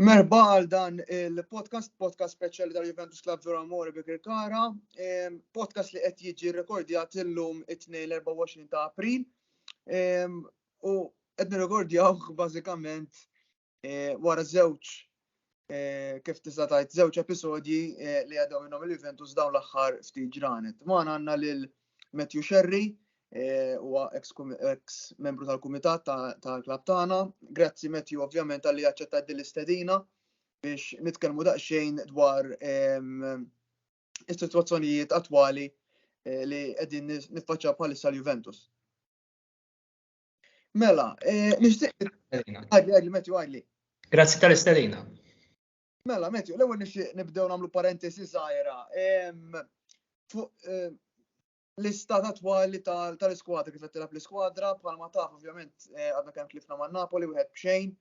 Merba għal dan il-podcast, podcast speċjali tal Juventus Club Zora Amore bi Kirkara, ehm, podcast li qed jiġi rekordjat illum it-tnejn l-24 ta' April. Ehm, u qed nirrekordjaw bażikament eh, wara żewġ eh, kif tista' tgħid żewġ episodji eh, li għadhom minnhom il-Juventus dawn l-aħħar ftit ġranet. Ma għandna lil Matthew Sherry huwa ex membru tal-kumitat tal-klab tagħna. Grazzi Matthew ovvjament għalli aċċettat din l-istedina biex nitkellmu daqsxejn dwar ehm, is-sitwazzjonijiet attwali li qegħdin niffaċċa bħalissa l-Juventus. Mela, eh, nixtieq. Għadli, għadli, Matthew, għadli. Grazzi tal-isterina. Mela, Matthew, l-ewwel nixtieq nibdew nagħmlu parentesi żgħira. Eh, l-istat attwali tal-iskwadra kif qed tilab l-iskwadra bħalma taf ovvjament eh, għadna kemm tlifna ma' Napoli wieħed b'xejn.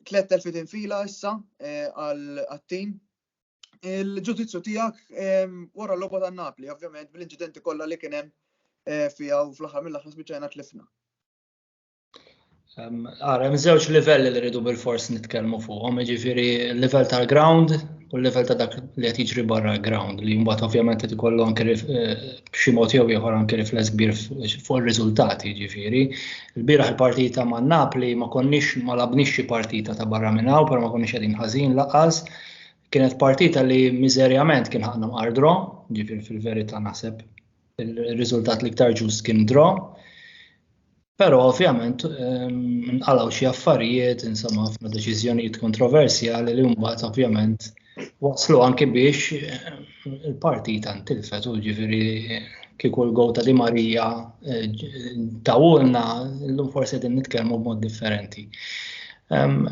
Tlet telfit infila issa għal-tim il-ġudizzju tiegħek ehm, wara l-logħba ta' Napli, ovvjament bil-inċidenti kollha li kien hemm eh, fiha u fl-aħħar mill-aħħar spiċċajna tlifna. Ehm, ara, hemm żewġ livelli li rridu bil-fors nitkellmu fuqhom, jiġifieri l-livell tal-ground u l-livell ta' dak li qed jiġri barra l-ground li mbagħad ovvjament qed ikollu anke eh, b'xi mod jew ieħor anke rifless kbir fuq ir-riżultati, jiġifieri. Il-bieraħ il-partita ma' Napli ma konniex ma labniex xi partita ta' barra minn hawn, però ma konniex qegħdin ħażin laqas Kienet partita li miżerjament kien ħaqna mqar dro, ġifir fil-verita naħseb il-riżultat li ktar ġust kien dro. Pero ovvjament ehm, nqalaw xi affarijiet, insomma ħafna deċiżjonijiet kontroversjali li mbagħad ovvjament waslu anki biex ehm, il-partita ntilfet u ġifiri kieku l-gow ta' Di Marija eh, tawulna l-lum forse din nitkellmu b'mod differenti. Ehm,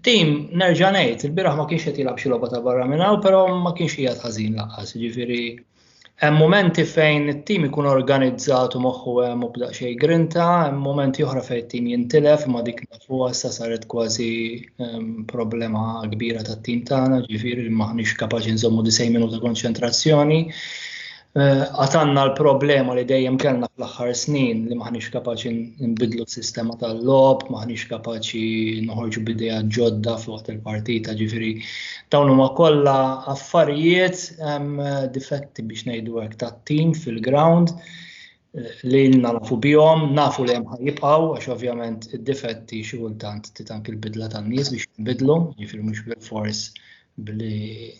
Tim, nerġa' ngħid, il-biraħ ma kienx qed jilgħab xi logħba ta' barra minn hawn, però ma kienx qiegħed ħażin laqqas, jiġifieri hemm momenti fejn it-tim ikun organizzat u moħħu hemm u bda xejn grinta, hemm momenti oħra fejn it-tim jintilef imma dik nafuha sa saret kważi ehm, problema kbira tat-tim tagħna, ġifieri li maħniex kapaċi nżommu disejn minuta konċentrazzjoni. Għatanna l-problema li dejjem kellna fl-aħħar snin li maħniex kapaċi nbidlu s-sistema tal-lob, maħniex kapaċi noħorġu bidea ġodda fuq il-partita ġifiri. Dawn huma kollha affarijiet difetti biex ngħidu hekk tat-tim fil-ground. li ilna nafu bihom, nafu li hemm ħajibqgħu għax ovvjament id-difetti xi kultant titank il-bidla tan-nies biex jinbidlu, jiġifieri mhux bil-fors billi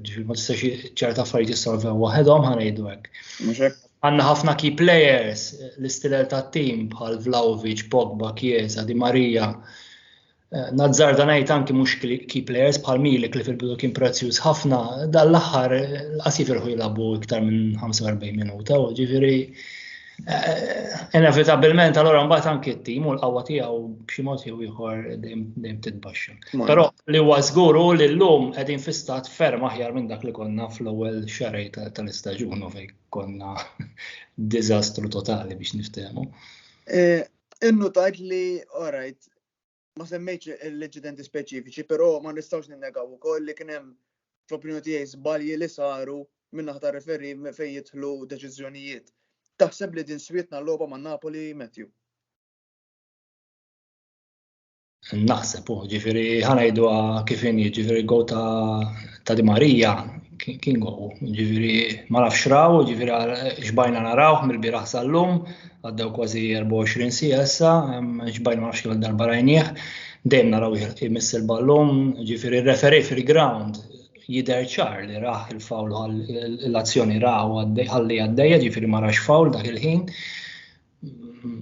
ġifieri ma tistax ċerta affarijiet jissolvew waħedhom ħanejdu hekk. Għandna ħafna key players l-istilel tat-tim bħal Vlaovic, Pogba, Chiesa, Di Maria, Nazzarda ngħid anki mhux key players bħal Milik li fil-bidu kien prezzjuż ħafna, dan l-aħħar qas jifilħu jilagħbu iktar minn 45 minuta, u ġifieri eh, inevitabilment allura mbagħad anki t-tim u l-qawwa tiegħu b'xi mod jew ieħor dejjem titbaxxa. Però li huwa żgur hu li llum qegħdin fi stat ferm aħjar minn dak li konna fl-ewwel xarej tal-istaġun u fejn konna diżastru totali biex niftehmu. Eh, Innu tajt li, alright, ma semmejtx l-inċidenti speċifiċi, però ma nistgħux ninnegaw ukoll li kien hemm fl-opinjoni tiegħi żbalji li saru min-naħa tar-referi fejn jidħlu deċiżjonijiet. Taħseb li din swietna l-logħba ma' Napoli, Matthew? Naħseb, u ġifiri, ħanajdu kif inni, ġifiri, go ta' Di Marija, kien go, ġifiri, ma nafx raw, ġifiri, xbajna naraw, mill-biraħ sal-lum, Għaddew kważi 24 sija issa, ġbajn ma nafx darba rajnieh, dejjem naraw jmiss il-ballum, ġifiri referi fil-ground jider ċar li raħ il-fawl l-azzjoni raħ għalli għaddejja ġifiri ma rax fawl dak il-ħin.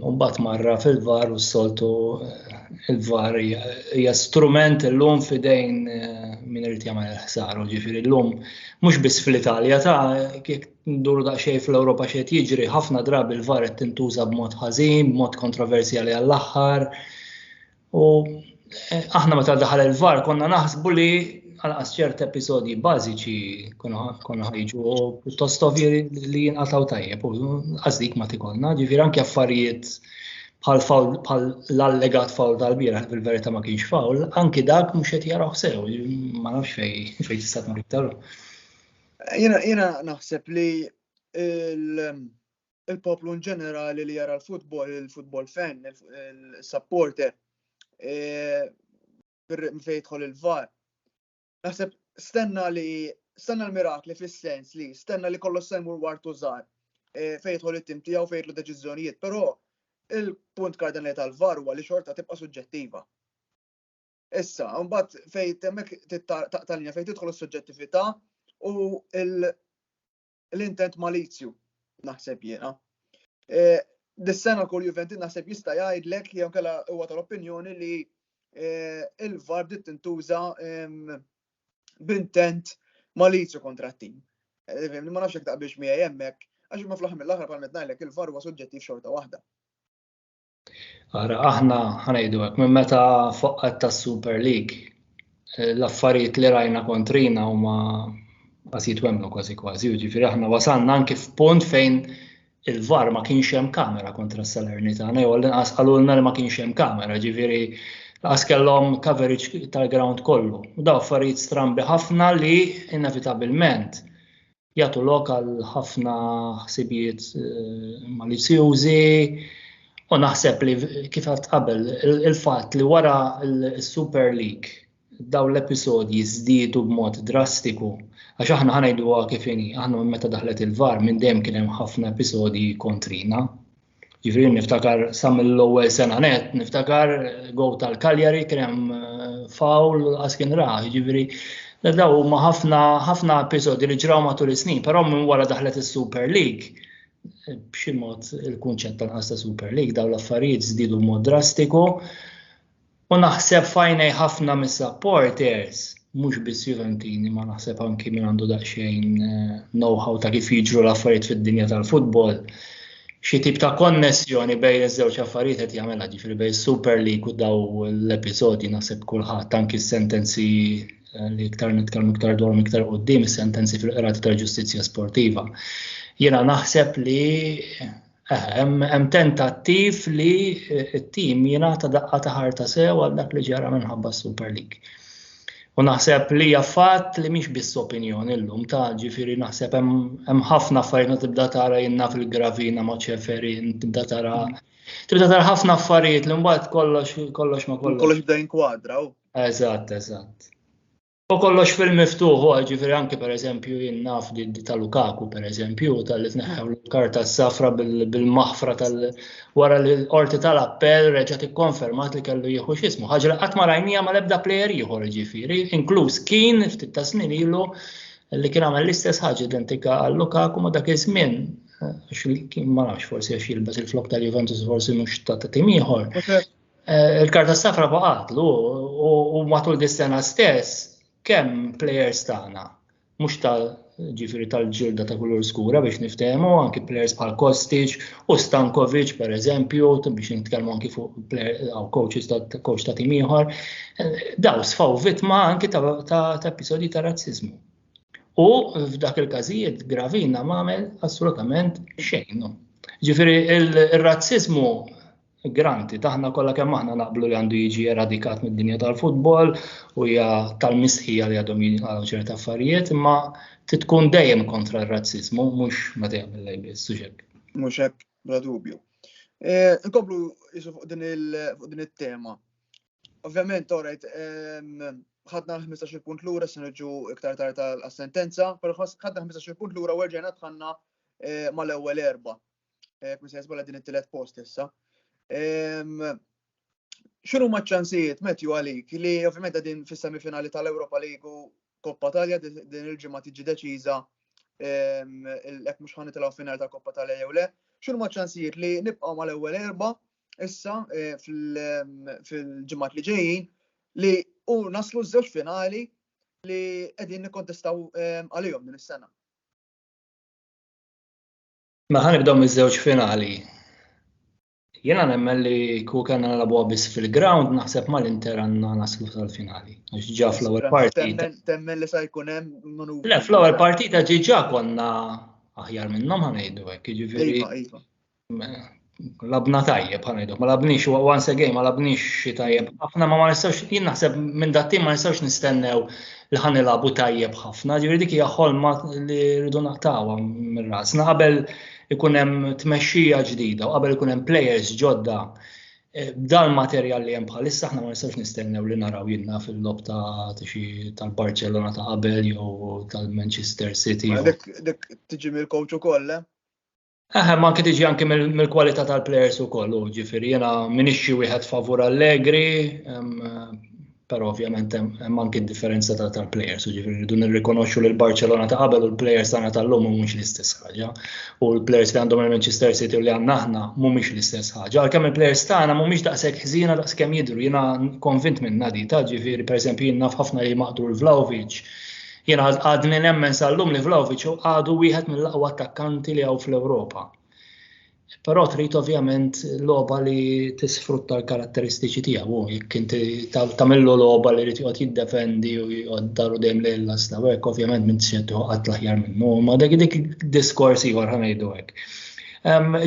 Umbat marra fil-var u s-soltu il-var hija strument l-lum fidejn eh, minn irid jagħmel il-ħsar, ġifiri l-lum mhux biss fl-Italja ta' nduru daqsxejn fl-Ewropa x'qed jiġri, ħafna drabi l-var qed tintuża b'mod ħażin, b'mod kontroversjali għall-aħħar. U eh, aħna meta daħal il-var konna naħsbu li għalqas ċert episodji bażiċi konna ħajġu u pjuttost ovvji li jinqataw tajjeb u għażdik ma tikonna, ġifier anke affarijiet bħal l-allegat fawl tal-bira fil-verità ma kienx fawl, anki dak mhux qed jaraw sew, ma nafx fejn fejn tista' tmur iktar. Jena, jena naħseb li il-poplu in ġenerali li jara l-futbol, il-futbol fan, il-supporter, e, fejtħol il-var. Naħseb stenna li stenna l-mirakli fis-sens li stenna li kollox semmur wartu żgħar e, fejtħol it-tim tiegħu fejtlu deċiżjonijiet, però il-punt kardinali tal-var huwa li xorta tibqa' suġġettiva. Issa, mbagħad fejn temmek taqta' linja fejn tidħol is-suġġettività u l-intent malizju naħseb jiena. E, dis-sena kull Juventus naħseb jista' jgħidlek jew kellha huwa tal-opinjoni li e, il-VAR bdiet tintuża b'intent malizju kontra t-tim. E, ma nafx jekk taqbilx miegħi hemmhekk għax ma fl-aħħar mill-aħħar bħal ngħidlek il-VAR huwa suġġettiv xorta waħda. Ara, aħna ħanajdu hekk minn meta foqqat tas-Super League eh, l-affarijiet li rajna kontrina huma qas jitwemlu kważi kważi, ġifieri aħna wasalna anki f'punt fejn il-var ma kienx hemm kamera kontra s-Salernitana, jew l-inqas qalulna li ma kienx hemm kamera, ġifieri laqas kellhom coverage tal-ground kollu. U daw affarijiet strambi ħafna li inevitabilment jagħtu lok għal ħafna ħsibijiet eh, malizzjużi u naħseb li kif għad qabel il-fatt li wara l-Super League daw l-episodji żdiedu b'mod drastiku għax aħna ħanajdu kif inhi, aħna meta daħlet il-var minn dejjem kien hemm ħafna episodji kontrina Ġifiri niftakar sa mill-ewwel sena net, niftakar go tal-Kaljari kien hemm eh, fawl għas kien ra, ġifiri daw huma ħafna ħafna episodi li ġraw matul is-snin, però minn wara daħlet is-Super League eh, b'xi mod il-kunċett tal-qas ta' Super League daw l-affarijiet żdiedu mod drastiku. U naħseb fajnej ħafna mis-supporters, mhux biss Juventini, ma naħseb anki minn għandu daqsxejn eh, know-how ta' kif jiġru l-affarijiet fid-dinja tal-futbol. Xi tip ta' konnessjoni bejn iż-żewġ affarijiet qed jagħmilha ġifieri bejn Super League u daw l-episodji naħseb kulħadd anki s-sentenzi eh, li iktar nitkellmu iktar dwar iktar qudiem is-sentenzi fil-qrati tal-ġustizzja sportiva. Jiena naħseb li Hemm tentattiv li t-tim jingħata daqqa ta' ħarta sew għal dak li ġara minħabba s-Super League. U naħseb li hija fatt li mhix biss opinjoni llum ta' ġifieri naħseb hemm ħafna affarijiet tibda tara jinna fil-gravina ma' ċeferi, tibda tara tibda tara ħafna affarijiet li mbagħad kollox kollox ma kollox. Kollox bda jinkwadraw. Eżatt, eżatt. U kollox fil-miftuħ, ġifiri anki per eżempju jien naf li ta' Lukaku per eżempju, tal-li tneħħew l-karta s-safra bil-maħfra tal wara li l-qorti tal-appell reġa' tikkonfermat li kellu jieħu xismu. Ħaġa li qatt ma rajnija ma lebda plejer ieħor ġifiri, inkluż kien ftit ta' snin ilu li kien għamel l-istess ħaġa identika għal Lukaku ma dak iż-żmien għax kien ma nafx forsi għax jilbes il-flok tal-Juventus forsi mhux ta' tim ieħor. Eh, il-karta safra baqatlu u matul dis-sena stess kemm players tagħna mhux ta' ġifiri tal-ġilda ta' kulur skura biex niftehmu anki players bħal Kostic u Stankovic per eżempju biex nitkellmu anki fuq għaw coaches ta' coach ta' tim ieħor eh, daw sfaw vittma anki ta' episodji ta' razzizmu. U f'dak il-każijiet gravina m'għamel assolutament xejn. Ġifiri il-razzizmu Granted, aħna kollha kemm aħna naqblu li għandu jiġi eradikat mid-dinja tal-futbol u hija tal-mistħija li għadhom jingħalgħu ċerta affarijiet, imma titkun dejjem kontra r-razzizmu, mhux ma dejjem il-lejbiet, suġek. Mhux hekk, bla dubju. E, nkomplu jisu fuq din it-tema. Ovvjament, orajt, ħadna l-15 punt lura se niġu iktar tard tal-sentenza, però ħadna 15 punt lura u rġajna tħanna e, mal-ewwel erba' Jekk se jisbola din it-tielet post issa. X'inhu ma ċansijiet Matthew għalik li ovvjament din fis-semifinali tal-Ewropa Ligu Koppa Talja din il-ġimgħa tiġi deċiża jekk mhux ħan nitilgħu final ta' Koppa Talja jew le. X'inhu ma ċansijiet li nibqgħu mal-ewwel erba' issa eh, fil-ġimgħat li ġejjin li u naslu żewġ finali li qegħdin nikkontestaw ehm, għalihom din is-sena. Ma ħan nibdew miż-żewġ finali. Jiena nemmen li ku kellna nilagħbuha biss fil-ground naħseb mal-Inter għandna naslu tal-finali. Għax ġa fl-ewwel partita. Temmen li sa jkun hemm manuvri. Le fl-ewwel partita ġiġa konna aħjar minnhom ħanejdu hekk, jiġifieri. Iva, iva. labna tajjeb ħan ngħidu, ma labniex once again ma labniex xi tajjeb ħafna ma ma nistax jien naħseb minn dat ma nistax nistennew li ħan nilagħbu tajjeb ħafna, ġifieri dik hija ħolma li rridu naqtawha minn rasna qabel ikun hemm tmexxija ġdida u qabel ikun hemm players ġodda e, dal materjal li hemm bħalissa aħna ma nistax nistennew li naraw jinna fil-lob ta' tal-Barcelona ta' qabel jew tal-Manchester City. Dik tiġi mill-coach ukoll, eh? Eħe, ma anke tiġi anke mill-kwalità tal-plejers ukoll, u ġifieri jiena minix xi wieħed favur Allegri, però ovvjament hemm anke differenza tal-plejers, u ġifieri rridu nirrikonoxxu li l-Barcelona ta' qabel u l-plejers tagħna tal-lum mhumiex l-istess ħaġa, u l-plejers li għandhom il-Manchester City u li għandna aħna mhumiex l-istess ħaġa. Għalkemm il-plejers tagħna mhumiex daqshekk ħżiena daqskemm jidhru, jiena konvint minn Nadita, ġifieri pereżempju jien naf ħafna li maqtur Vlahovic, Jien għadni nemmen sal-lum li Vlaovic għadu wieħed mill-aqwa attakkanti li hawn fl-Ewropa. Però trid ovvjament logħba li tisfrutta l-karatteristiċi tiegħu, jekk inti tagħmillu logħba li rid joqgħod jiddefendi u joqgħod daru dejjem lejn l-asta, hekk ovvjament minn se toqgħod l-aħjar minnu, ma dak dik diskors ieħor ħanejdu hekk.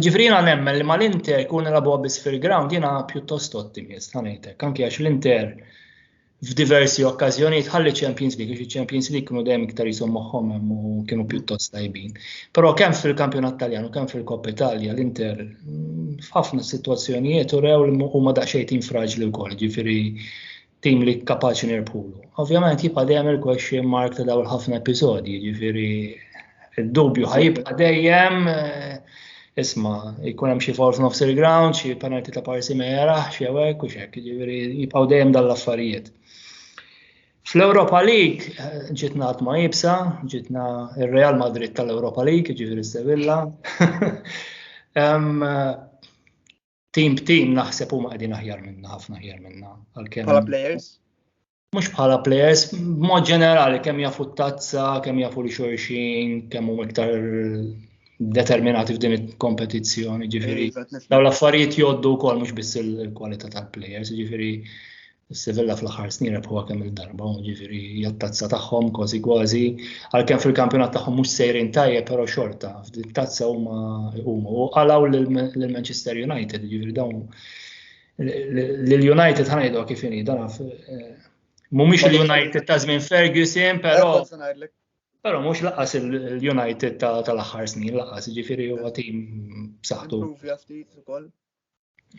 Ġifri jiena nemmen li mal-Inter kun nilagħbu biss fil-ground jiena pjuttost ottimist ħanejtek, anke għax l-Inter f'diversi okkażjonijiet ħalli Champions League, għax Champions League kienu dejjem iktar jisom moħħom hemm u kienu pjuttost tajbin. Però kemm fil-Kampjonat Taljan u kemm fil-Kopp Italja l-Inter mm, f'ħafna sitwazzjonijiet u rew li huma daqsxejn tim fraġli wkoll, ġifieri tim li kapaċi nirbħulu. Ovvjament jibqa' dejjem il-question mark ta' dawn ħafna episodji, ġifieri Id-dubju ħajibqa' dejjem isma, jkun hemm xi forf nofs il-ground, xi penalti ta' parsi ma jarax jew hekk u xek, jiġifieri jibqgħu dejjem dan l-affarijiet. Fl-Europa League eh, ġitna għat ma jibsa, ġitna il-Real Madrid tal-Europa League, ġifiri Sevilla. Team b'team naħseb huma qegħdin aħjar minna, ħafna aħjar minna. Bħala players? Mhux bħala players, b'mod ġenerali kemm jafu t-tazza, kemm jafu li xorxin, kemm huma iktar determinati f'din il-kompetizzjoni, ġifieri. Daw l-affarijiet joddu wkoll mhux biss il-kwalità tal-players, ġifieri Is-Sevilla fl-aħħar snin rebħuha kemm il-darba, ġifieri hija tazza tagħhom kważi kważi, għalkemm fil-kampjonat tagħhom mhux sejrin tajjeb però xorta, f'din tazza huma huma u qalaw lil Manchester United, ġifieri dawn lil United ħanajdu kif inhi dan eh, mhumiex il-United ta' żmien Ferguson, però Pero mux laqas il-United tal-axħar snin, laqas ġifiri u għatim b'saħħtu.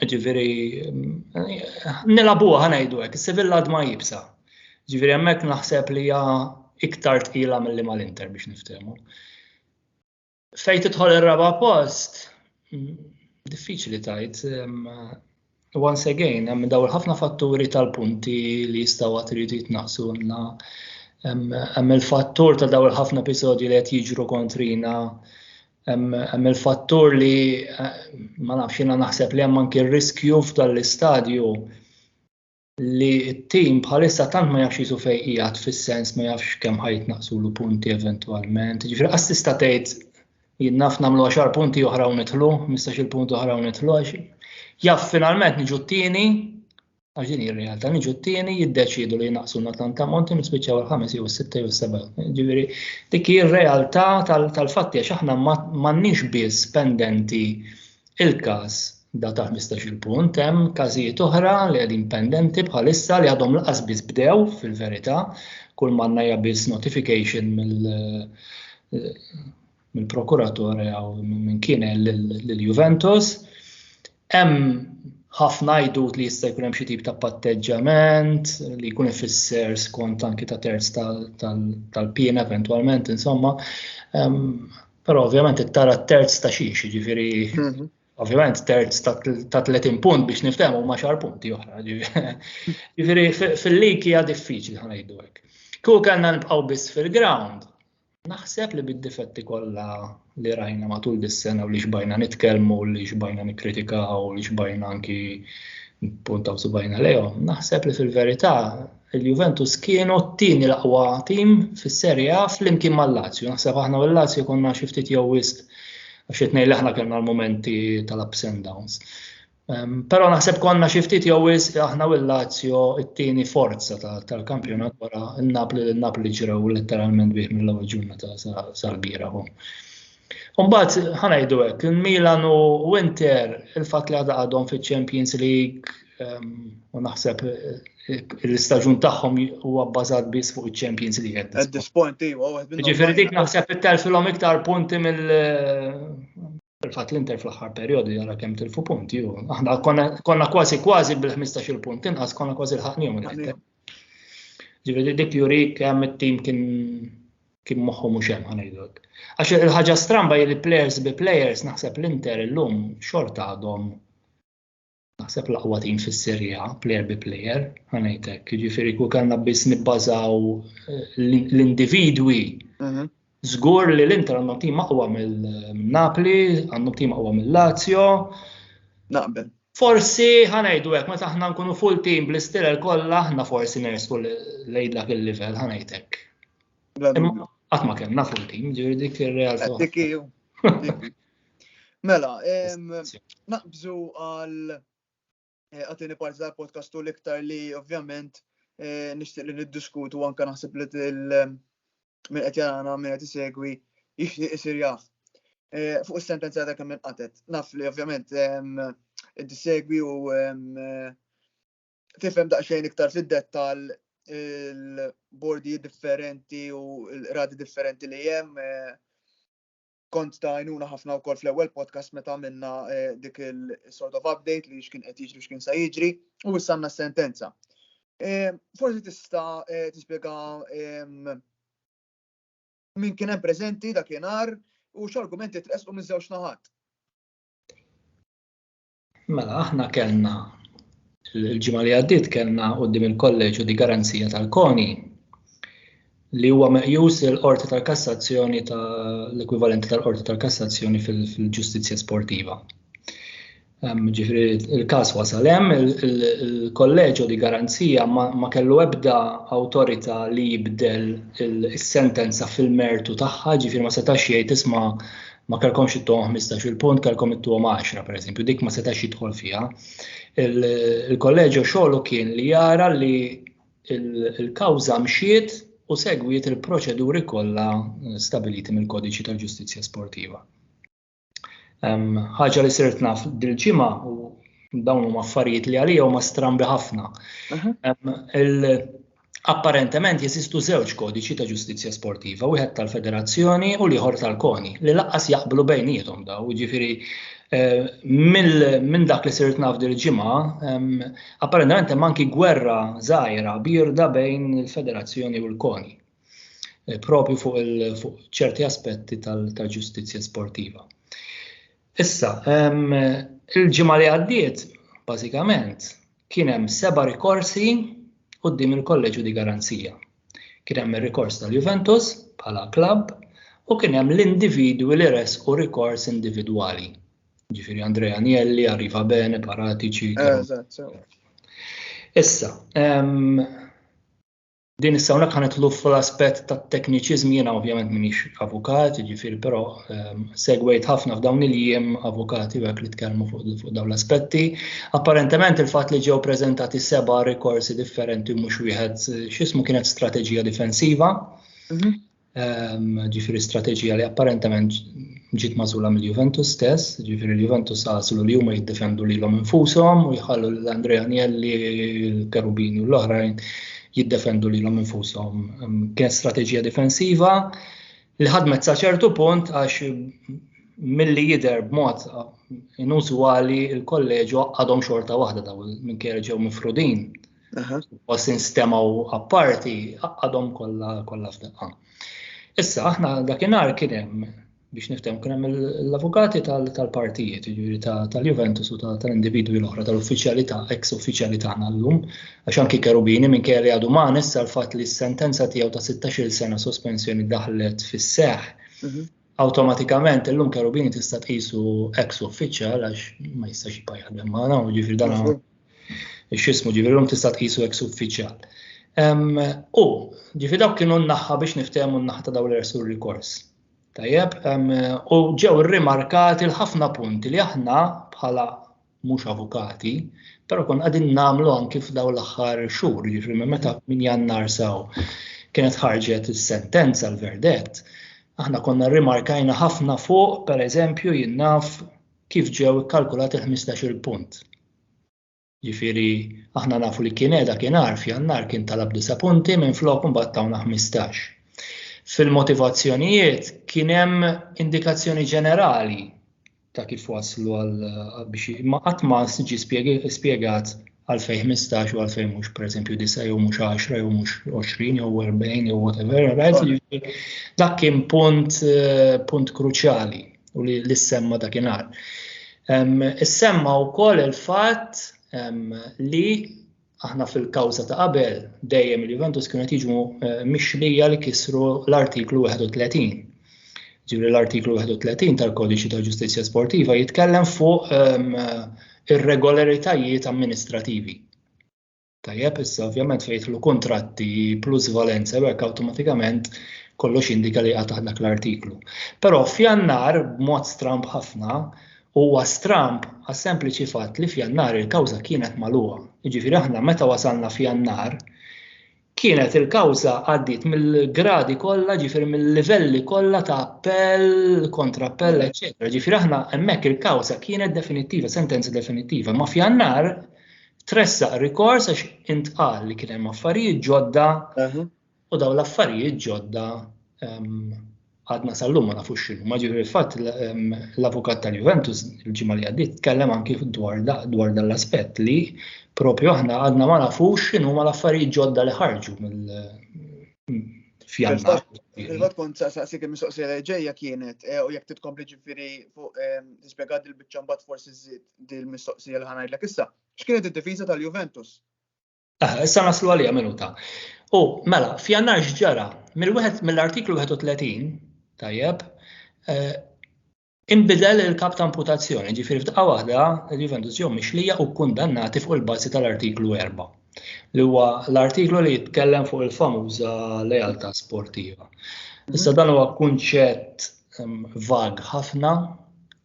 Ġifieri nilabuha ħanajdu hekk, is-Sevilla ma jibsa. Ġifieri hemmhekk naħseb li hija iktar tqila milli mal-Inter biex niftehmu. Fejn tidħol ir-raba' post, diffiċli tajt, once again, hemm daw ħafna fatturi tal-punti li jistgħu għad iridu jitnaqsu għandna. Hemm il-fattur ta' daw il-ħafna episodji li qed jiġru kontrina Hemm il-fattur li ma nafx jiena naħseb li hemm anki r-riskju f'dan l-istadju li t-tim bħalissa tant ma jafx jisu fejn qiegħed fis-sens ma jafx kemm ħajt naqsulu punti eventwalment. Ġifieri qas tista' tgħid jien naf nagħmlu għaxar punti oħra u nidħlu, mistax il-punti oħra u nidħlu għax jaf finalment niġu t-tieni għax din hija realtà niġu t-tieni jiddeċiedu li jnaqsu na tant ammont u nispiċċaw il-ħames jew is-sitta jew is-seba'. Ġifieri dik hi r-realtà tal-fatti għax aħna m'għandniex biss pendenti il-każ da ta' 15-il punt, hemm każijiet oħra li qegħdin pendenti bħalissa li għadhom laqas biss bdew fil-verità, kull manna hija biss notification mill mill-prokuratore jew minn kien lill-Juventus. Hemm ħafna għajdut li jista' jkun hemm xi tip ta' patteġġament li jkun ifisser skont anki ta' terz tal-piena eventwalment, insomma. Però ovvjament it-tara terz ta' xiex, ġifieri mhm. ovvjament terz ta' 30 punt biex niftehmu ma' xar punti oħra. Ġifieri fil-lig hija diffiċli ħanajdu hekk. Kieku kellna nibqgħu biss fil-ground, Naħseb li bid-difetti kollha li rajna matul dis-sena u li xbajna nitkellmu, li xbajna nikkritikaw, li xbajna anki puntaw subajna lejhom, naħseb li fil-verità il-Juventus kienu t-tieni l-aqwa tim fis-Serie A flimkien mal-Lazio. Naħseb aħna u l-Lazio konna xi ftit jew wisq għax qed ngħid aħna kellna l-momenti tal-ups and downs. Però naħseb konna xi ftit jew wis aħna u l-Lazio it-tieni forza tal-kampjonat wara n-Napli li n-Napli ġrew letteralment bih mill-ewwel ġurnata sal-bira. Umbagħad ħanajdu hekk, il-Milan u Winter il-fatt li għadha għadhom fiċ-Champions League ehm, u naħseb l-istaġun tagħhom huwa bbażat biss fuq iċ-Champions League. At this point, iva, Ġifieri dik naħseb it-telfilhom iktar punti mill Fil-fatt l-Inter fl-aħħar perjodu jara kemm tilfu punti u aħna konna kważi kważi bil-15 punt inqas konna kważi l-ħaqnihom l-Inter. Ġifieri dik juri kemm it-tim kien kien moħħu mhux hemm ħanejdlek. Għax il-ħaġa stramba li players bi players naħseb l-Inter illum xorta għadhom naħseb l-aqwa tim fis-Serie A, player bi player, ħanajtek, jiġifieri kull kellna biss nibbażaw eh, l-individwi. Mhm. Żgur li l-Inter għandhom tim aqwa mill-Napli, għandhom tim aqwa mill-Lazio. Naqbel. Forsi ħanajdu hekk meta aħna nkunu full team bl-istilel kollha aħna forsi nersu lejn dak il-livell ħanajtek. Qatt ma kellna full team, ġifieri dik ir-realtà. Mela, naqbżu għal eh, għatini parti tal-podcastu l-iktar li ovvjament eh, nishtiq li niddiskutu anka naħseb li minn qed jarana minn qed isegwi jixtieq isir jaf. Eh, fuq is-sentenza ta' kemm qatet. Naf li ovvjament inti segwi u tifhem daqsxejn iktar fid-dettall il-bordi differenti u l-radi differenti li hemm kont ta' għajnuna ħafna wkoll fl-ewwel podcast meta għamilna eh, dik il-sort of update li x'kien qed jiġri x'kien sa jiġri u issa għandna sentenza. Eh, forsi tista' eh, tispjega ehm, min kien hemm preżenti dakinhar u x'argumenti tresqu minn żewġ naħat. Mela, aħna kellna l-ġimgħa li għaddiet kellna quddiem il-kolleġġu di garanzija tal-koni li huwa meqjus il-qorti tal-kassazzjoni tal-ekwivalenti tal-qorti tal-kassazzjoni fil-ġustizzja sportiva. Ġifri, il-kas wasal hemm, il-kolleġu di garanzija ma kellu ebda awtorità li jibdel is-sentenza fil-mertu tagħha, ġifri ma setax jgħid isma' ma kellkomx ittuhom 15-il punt, kellkom ittuhom 10 pereżempju, dik ma setax jidħol fiha. Il-kolleġġju xogħlu kien li jara li il-kawża mxiet u segwiet il-proċeduri kollha stabiliti mill-Kodiċi tal-Ġustizzja Sportiva. Ħaġa li sirt naf dil-ġimgħa u dawn huma affarijiet li għalija huma strambi ħafna. Apparentement jeżistu żewġ kodiċi ta' ġustizzja sportiva, wieħed tal-federazzjoni u l-ieħor tal-koni, li laqqas jaqblu bejniethom daw, ġifiri eh, minn dak li sirt naf dil ġimgħa apparentement hemm anki gwerra żgħira birda bejn il-federazzjoni u l-koni eh, propju fuq ċerti aspetti tal-ġustizzja sportiva. Issa, il-ġimgħa li għaddiet, bażikament, Kien hemm seba' rikorsi quddiem il-Kolleġġju di Garanzia. Kien hemm ir-rikors tal-Juventus bħala klabb u kien hemm l-individwi li ressqu rikors individwali. Ġifieri Andrea Agnelli, Arriva Bene, Paratici. Issa, Din issa hawnhekk ħanidħlu fl-aspett tat-tekniċiżmi jiena ovvjament m'iniex avukat, jiġifieri però ehm, segwejt ħafna f'dawn il-jiem avukati hekk li tkellmu fuq dawn l-aspetti. Apparentement il-fatt li ġew preżentati seba' rikorsi differenti mhux wieħed x'ismu kienet strateġija difensiva. Mhm. ġifiri strateġija li apparentement ġiet mażula mill-Juventus stess, ġifiri l-Juventus għaslu li huma jiddefendu lilhom infushom u jħallu l Andrea Agnelli, l-Kerubini u l-oħrajn jiddefendu lilhom infushom. Kien strateġija difensiva li ħadmet sa ċertu punt għax milli jidher b'mod inużwali il-kolleġu għadhom xorta waħda daw minn ġew mifrudin U sin stemaw apparti għadhom kollha kollha f'daqqa. Issa aħna dakinhar kien hemm biex niftem kien hemm l-avukati tal-partijiet, jiġifieri tal-Juventus u tal-individwi l-oħra tal-uffiċjalità, ex uffiċjali tagħna llum, għax anki Kerubini minn kelli għadu ma nissa l-fatt li s-sentenza tiegħu ta' 16-il sena sospensjoni daħlet fis-seħħ mhm. Awtomatikament illum kerubini tista' tqisu ex uffiċjal għax ma jistax jibqa' jaħdem magħna, ġifieri dan mhm. x'ismu ġifieri llum tista' tqisu ex uffiċjal. U ġifieri dawk kienu naħħa biex niftehmu n-naħa ta' dawn l-ersu rikors. Tajjeb, u ġew rimarkati l-ħafna punti li aħna bħala mhux avukati, però kon qegħdin nagħmlu anki f'daw l-aħħar xhur, jiġri meta minn jannar saw kienet ħarġet is-sentenza l-verdett, aħna konna rimarkajna ħafna fuq, per eżempju, jinnaf kif ġew ikkalkulat il-15 punt. Ġifiri, aħna nafu li kien edha kien arf jannar kien talab disa punti minn flok un battawna 15. Fil-motivazzjonijiet kien hemm indikazzjoni ġenerali ta' kif waslu għal biex ma qatt ma siġi spjegat għal fej 15 u għal fej mhux pereżempju disa jew mhux 10 jew mhux 20 jew 40 jew whatever, right? Jiġifieri dak kien punt eh, punt kruċjali u li l-semma dakinhar. Is-semma wkoll il-fatt li aħna fil-kawża ta' qabel dejjem il-Juventus kienu qed jiġu eh, mixlija li kisru l-artiklu 31. Ġifieri l-artiklu 31 tal-Kodiċi ta' Ġustizzja Sportiva jitkellem fuq ehm, irregolaritajiet amministrativi. Tajjeb, issa ovvjament fejtlu kontratti plus valenza hekk awtomatikament kollox indika li għatah dak l-artiklu. Però f'jannar, b'mod stramb ħafna, Huwa stramb għas-sempliċi fatt li f'Jannar il-kawża kienet magħluqa. Jiġifieri aħna meta wasalna f'Jannar kienet il-kawża għaddiet mill-gradi kollha, ġifieri mill-livelli kollha ta' appell, kontrappell, eċetera. Ġifieri aħna hemmhekk il-kawża kienet definittiva, sentenza definittiva, ma f'jannar tressaq rikors għax intqal li kien hemm affarijiet ġodda U dawn l-affarijiet ġodda għadna sal-lum ma nafux xinu. Ma ġifri fatt l-avukat tal-Juventus il-ġimma li għaddit tkellem anki dwar dan l-aspett li propju aħna għadna ma nafux xinu ma l-affarijiet ġodda li ħarġu mill fjannar. Il-vot kont sa' sa' sikim mistoqsi reġeja kienet eh, u jek titkompli ġifiri fuq tispiegat il-bicċambat forsi zid dil-mistoqsi l-ħanajd l issa. X'kienet id-difiża tal-Juventus? Ah, issa naslu għalija minuta. U mela, f'jannar x'ġara, mill-artiklu 31, tajjeb, eh, imbidel il-kap ta' amputazzjoni, ġifir f'daqqa waħda, il-Juventus jew mixlija u kundannati fuq il-bazi tal-artiklu 4, li huwa l-artiklu li jitkellem fuq il-famuża lealtà sportiva. Issa dan huwa kunċett ehm, vag ħafna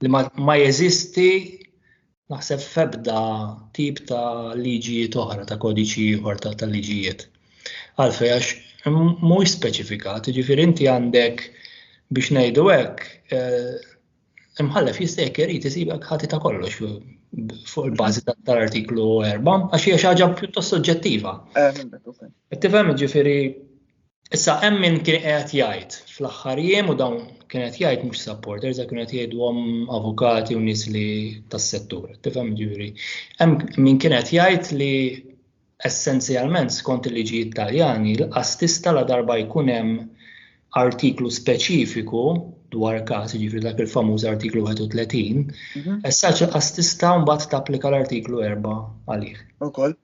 li ma jeżisti Naħseb f'ebda tip ta' liġijiet oħra, ta' kodiċi ieħor ta' liġijiet. Għalfej għax mhuwiex speċifikat, jiġifieri inti għandek biex ngħidu hekk eh, imħallef jista' jekk irid isibek ħati ta' kollox fuq il-bażi tal-artiklu 4 għax hija xi ħaġa pjuttost soġġettiva. Qed tifhem jiġifieri Issa hemm min kien qed jgħid fl-aħħar jiem u dawn kien qed jgħid mhux supporters, kien qed jgħidhom avukati u nies li tas-settur, tifhem ġuri. Hemm min kien qed jgħid li essenzjalment skont il-liġi Italjani l-qas tista' la darba jkun hemm artiklu speċifiku dwar każ, jiġifieri dak il-famuż artiklu 31, mhm. essaċ il-qas tista' mbagħad tapplika l-artiklu 4 għalih. Ukoll.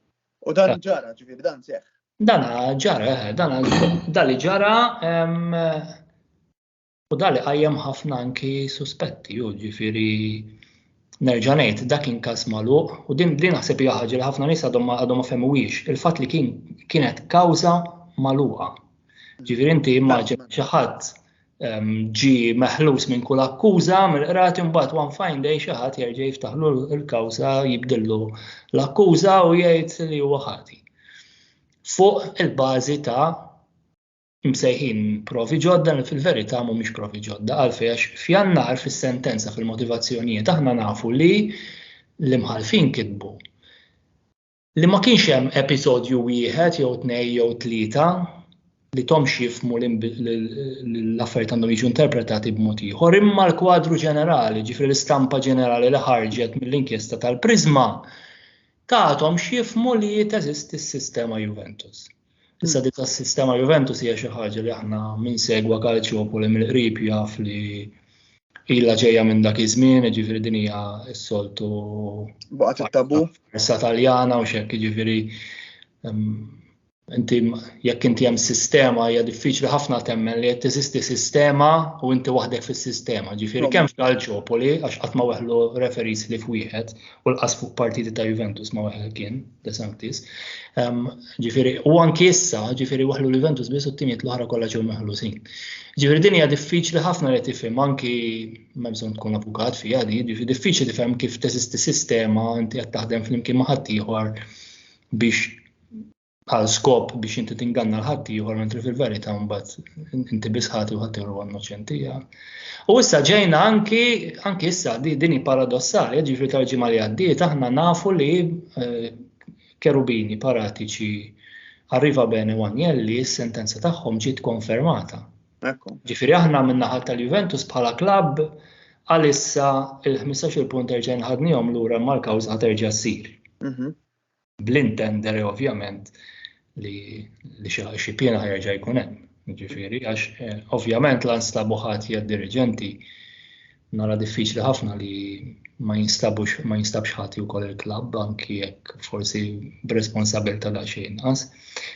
U dan ġara, ġifieri dan seħħ. Dan ġara, eh, dan li ġara u dan li qajjem ħafna anki suspetti, u ġifieri nerġa' ngħid dak kien każ magħluq u din din naħseb hija ħaġa li ħafna nies għadhom għadhom ma fehmuwiex il-fatt li kien kienet kawża magħluqa. Ġifieri inti immaġina xi ħadd ġi meħlus minn kull akkuża mill-qrati mbagħad one fine day xi ħadd jerġa' jiftaħlu l-kawża jibdillu l-akkuża u jgħid li huwa ħati. Fuq il-bażi ta' msejħin provi ġodda li fil-verità mhumiex provi ġodda għalfejn għax f'jannar fis-sentenza fil-motivazzjonijiet aħna nafu li l-imħalfin kitbu li ma kienx hemm episodju wieħed jew tnej jew tlieta li tomx jifmu l-affarijiet għandhom jiġu interpretati b'mod ieħor, imma l-kwadru ġenerali, ġifri l-istampa ġenerali li ħarġet mill-inkjesta tal-Prisma, tatom xifmu li teżisti s-sistema Juventus. Issa dik tas-sistema Juventus hija xi ħaġa li aħna minn segwa Calciopoli mill-qrib jaf li illa ġejja minn dak iż-żmien, ġifieri din hija s-soltu. Baqgħet it-tabu. Issa Taljana u xekk ġifieri inti jekk inti hemm sistema hija diffiċli ħafna temmen li qed teżisti sistema u inti waħdek fis-sistema. Ġifieri kemm f'Calciopoli għax qatt ma weħlu referis li f'wieħed u l-qas fuq partiti ta' Juventus ma weħel kien. DeSantis. Ġifiri, u anki issa, ġifiri waħlu l-Juventus biss u t-timiet l-oħra kollha ġew meħlusin. Ġifiri din hija diffiċli ħafna li tifhem anki ma bżonn tkun avukat fiha di, ġifiri diffiċli tifhem kif teżisti sistema inti qed taħdem flimkien ma' ħaddieħor biex għal skop biex inti tinganna l-ħaddieħor mentri fil-verità mbagħad inti biss ħati u ħaddieħor huwa innoċenti U issa ġejna anki, anki issa, din hi paradossali, ġifri tal-ġimgħa li għaddiet, aħna nafu li eh, kerubini paratiċi Arriva Bene u Agnelli, s-sentenza tagħhom ġiet konfermata. Ġifiri aħna minnaħat tal-Juventus bħala klabb għalissa il-15 punt erġen ħadnijom l-ura mal-kawż ħaterġa s-sir. Mhm. bl-intendere ovvjament li xi piena ħerġa jkun hemm. Ġifieri għax eh, ovvjament la nstabu ħadd hija dirigenti nara diffiċli ħafna li ma jinstabux ma jinstabx ħati wkoll il-klabb anki jekk forsi b'responsabilità da xejn inqas.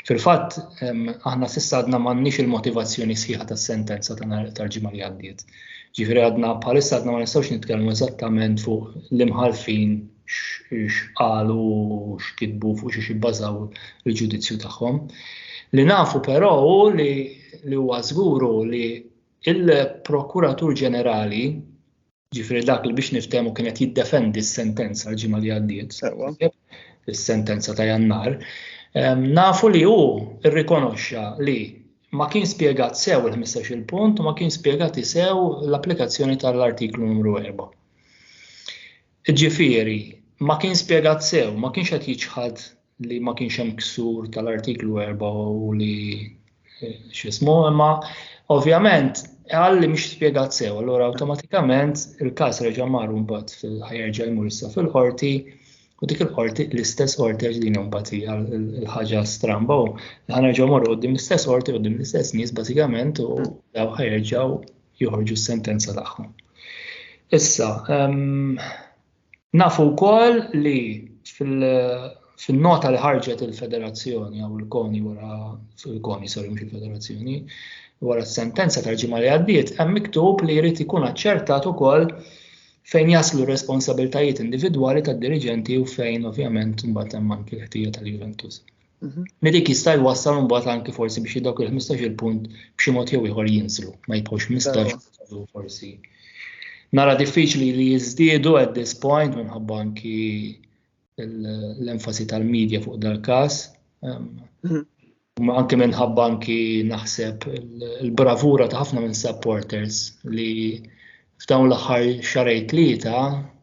Fil-fatt aħna s'issa għadna m'għandniex il-motivazzjoni sħiħa tas-sentenza tal-ġimgħa li għaddiet. Ġifieri għadna bħalissa għadna ma nistgħux nitkellmu eżattament fuq l-imħalfin x'qalu x'kitbu fuq xiex jibbażaw il-ġudizzju tagħhom. Li nafu però hu li li huwa żguru li il-Prokuratur Ġenerali ġifri dak li biex niftemu kienet jiddefendi s-sentenza l-ġimgħa li għaddiet, is-sentenza ta' jannar, nafu li hu rrikonoxxa li ma kien spjegat sew il-15 il-punt u ma kien spjegat sew l-applikazzjoni tal-artiklu numru 4. Jiġifieri, ma kien spjegat sew, ma kienx qed jiċħad li ma kienx hemm ksur tal-Artiklu 4 u li x'ismu, imma ovvjament qal li mhix spjegat sew, allura awtomatikament il-każ reġa' mar mbagħad fil-ħajerġa' jmur issa fil-qorti u dik il-qorti l-istess qorti għax din mbagħad hija l-ħaġa stramba u ħanerġgħu morru qudiem l-istess qorti qudiem l-istess nies bażikament u daw ħajerġgħu joħorġu s-sentenza tagħhom. Issa, ehm, nafu wkoll li fil-nota li ħarġet il-federazzjoni għaw il-koni wara il-koni sorry mhux il-federazzjoni wara s-sentenza tal-ġimgħa li għaddiet hemm miktub li jrid ikun aċċertat ukoll fejn jaslu responsabiltajiet individwali tad-diriġenti u fejn ovvjament mbagħad hemm anki l-ħtija tal-Juventus. Mhm. Medik jista' jwassal mbagħad anki forsi biex dawk il-15 il-punt b'xi mod jew ieħor jinżlu, ma jibqgħux 15 forsi. Nara diffiċli li jiżdiedu at this point minħabba anki l-enfasi tal-medja fuq dal-każ. Ehm, mhm. Ma anke minħabba anki naħseb il-bravura ta' ħafna minn supporters li F'dawn l-aħħar xarej tlieta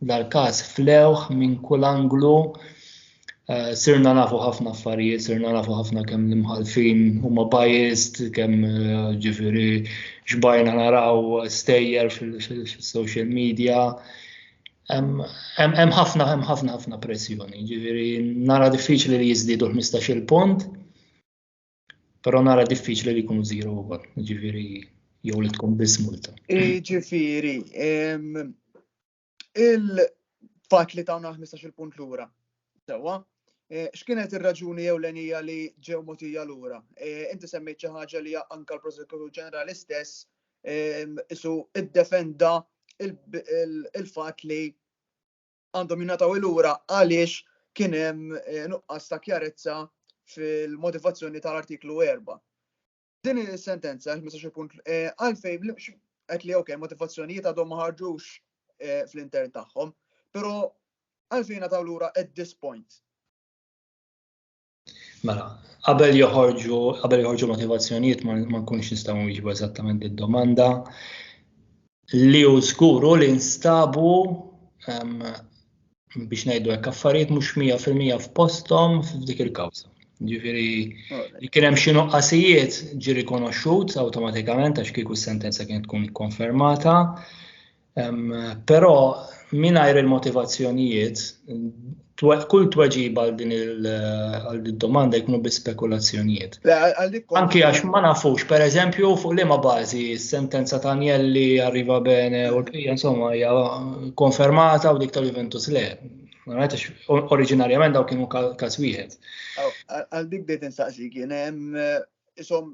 dal-każ flewh minn kull anglu eh, sirna nafu ħafna affarijiet, sirna nafu ħafna kemm l-imħalfin huma biased, kemm eh, ġifieri xbajna naraw stejjer fil-social media, Hemm ħafna hemm ħafna ħafna pressjoni, ġifieri nara diffiċli li jiżdiedu 15-il punt. Però nara diffiċli li jkunu zero ukoll, ġifieri jew li tkun biss multa. Ġifieri, il-fatt li tawna 15 punt lura, sewwa, e, x'kienet ir-raġuni jew l-enija li ġew motija lura? E, inti semmejt xi ħaġa li anka l-Prosekutur Ġenerali stess isu id-defenda il-fatt li għandhom jingħataw ilura għaliex kien hemm eh, nuqqas ta' kjarezza fil-motivazzjoni tal-artiklu 4. Din is-sentenza, 15 punt, eh, għalfej qed li ok, motivazzjonijiet għadhom ma ħarġux eh, fl-intern tagħhom, però għalfejn għataw lura at this point. Mela, qabel joħorġu, qabel joħorġu motivazzjonijiet ma nkunx nistgħu nwiġbu eżattament id-domanda li hu żguru li nstabu biex ngħidu hekk affarijiet mhux 100% f'posthom f'dik il-kawża. Ġifieri li kien hemm xi nuqqasijiet ġi rikonoxxut awtomatikament għax kieku s-sentenza kienet tkun ikkonfermata. Però mingħajr il-motivazzjonijiet, kull tweġiba għal din il-domanda jkunu bi spekulazzjonijiet. Anki għax ma nafux, per eżempju, fuq li ma bażi sentenza ta' Anjelli arriva bene u l-bqija insomma hija konfermata u dik tal-Juventus le. Oriġinarjament daw kienu każ wieħed. Għal dik bdejt insaqsi kien hemm isom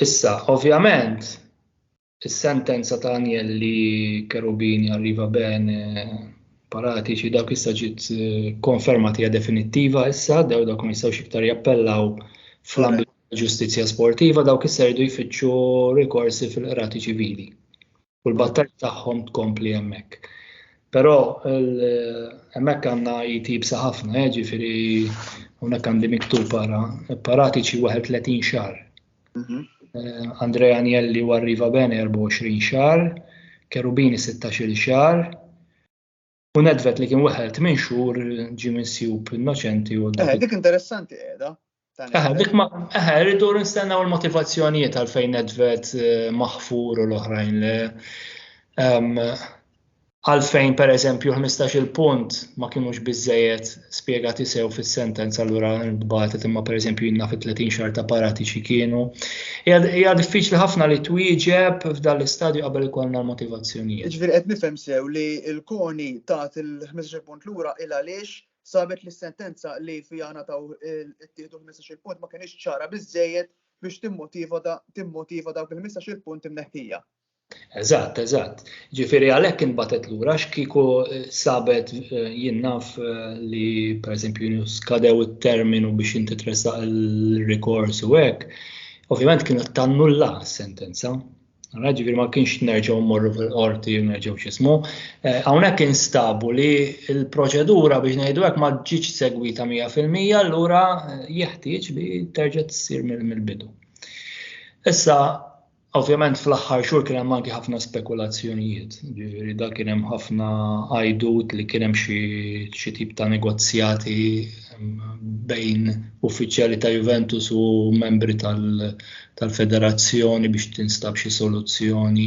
Issa, ovvjament, is-sentenza ta' Anjelli Kerubini arriva ben paratiċi dak issa ġiet eh, konfermati hija definittiva issa, daw dak ma jistgħux iktar jappellaw fl-ambit ġustizzja sportiva dawk issa jridu jfittxu rikorsi fil-qrati ċivili. u l-battalja tagħhom tkompli hemmhekk. Però hemmhekk għandna jitibsa ħafna, eh, ġifieri hawnhekk għandi miktub para, paratiċi 31 xahar. Mhm. Eh, Andrea Agnelli u Arriva Bene 24 xahar, Kerubini 16 xahar, U nedvet li kien weħel tmien xhur ġi minsjub innoċenti u. Eh, dik interessanti qiegħda. Eh, dik ma eh, rridu nistennew il-motivazzjonijiet għal fejn nedvet eh, maħfur u l-oħrajn li ehm, għalfejn per eżempju 15 il-punt ma kienux bizzejet spjegati sew fis-sentenza allura nbatet imma pereżempju jinna fi 30 xar ta' paratiċi kienu. Hija diffiċli ħafna li twieġeb f'dan l-istadju qabel ikollna l-motivazzjonijiet. Ġifieri qed nifhem sew li l-koni tat il-15 punt lura il għaliex sabet li s-sentenza li fiha nataw ittieħdu 15 punt ma kienx ċara biżejjed biex timmotiva dawk il-15 punt imneħħija. Eżatt, eżatt. Ġifieri għalhekk inbatet lura x'kieku eh, sabet eh, jinnaf eh, li pereżempju skadew it-terminu biex inti tressaq il-rikors u hekk, ovvjament kienet tannulla s-sentenza. Għana ġifiri ma kienx nerġaw morru fil-qorti, nerġaw xismu. Għawnek instabu li il-proċedura biex nejdu għek ma ġiċ segwita 100% l-ura jeħtieġ li terġa t-sir mill-bidu. Issa, Ovvjament fl-aħħar xhur kien hemm anki ħafna spekulazzjonijiet, ġifieri da kien hemm ħafna għajdut li kien hemm xi tip ta' negozjati bejn uffiċjali ta' Juventus u membri tal-federazzjoni biex tinstab xi soluzzjoni.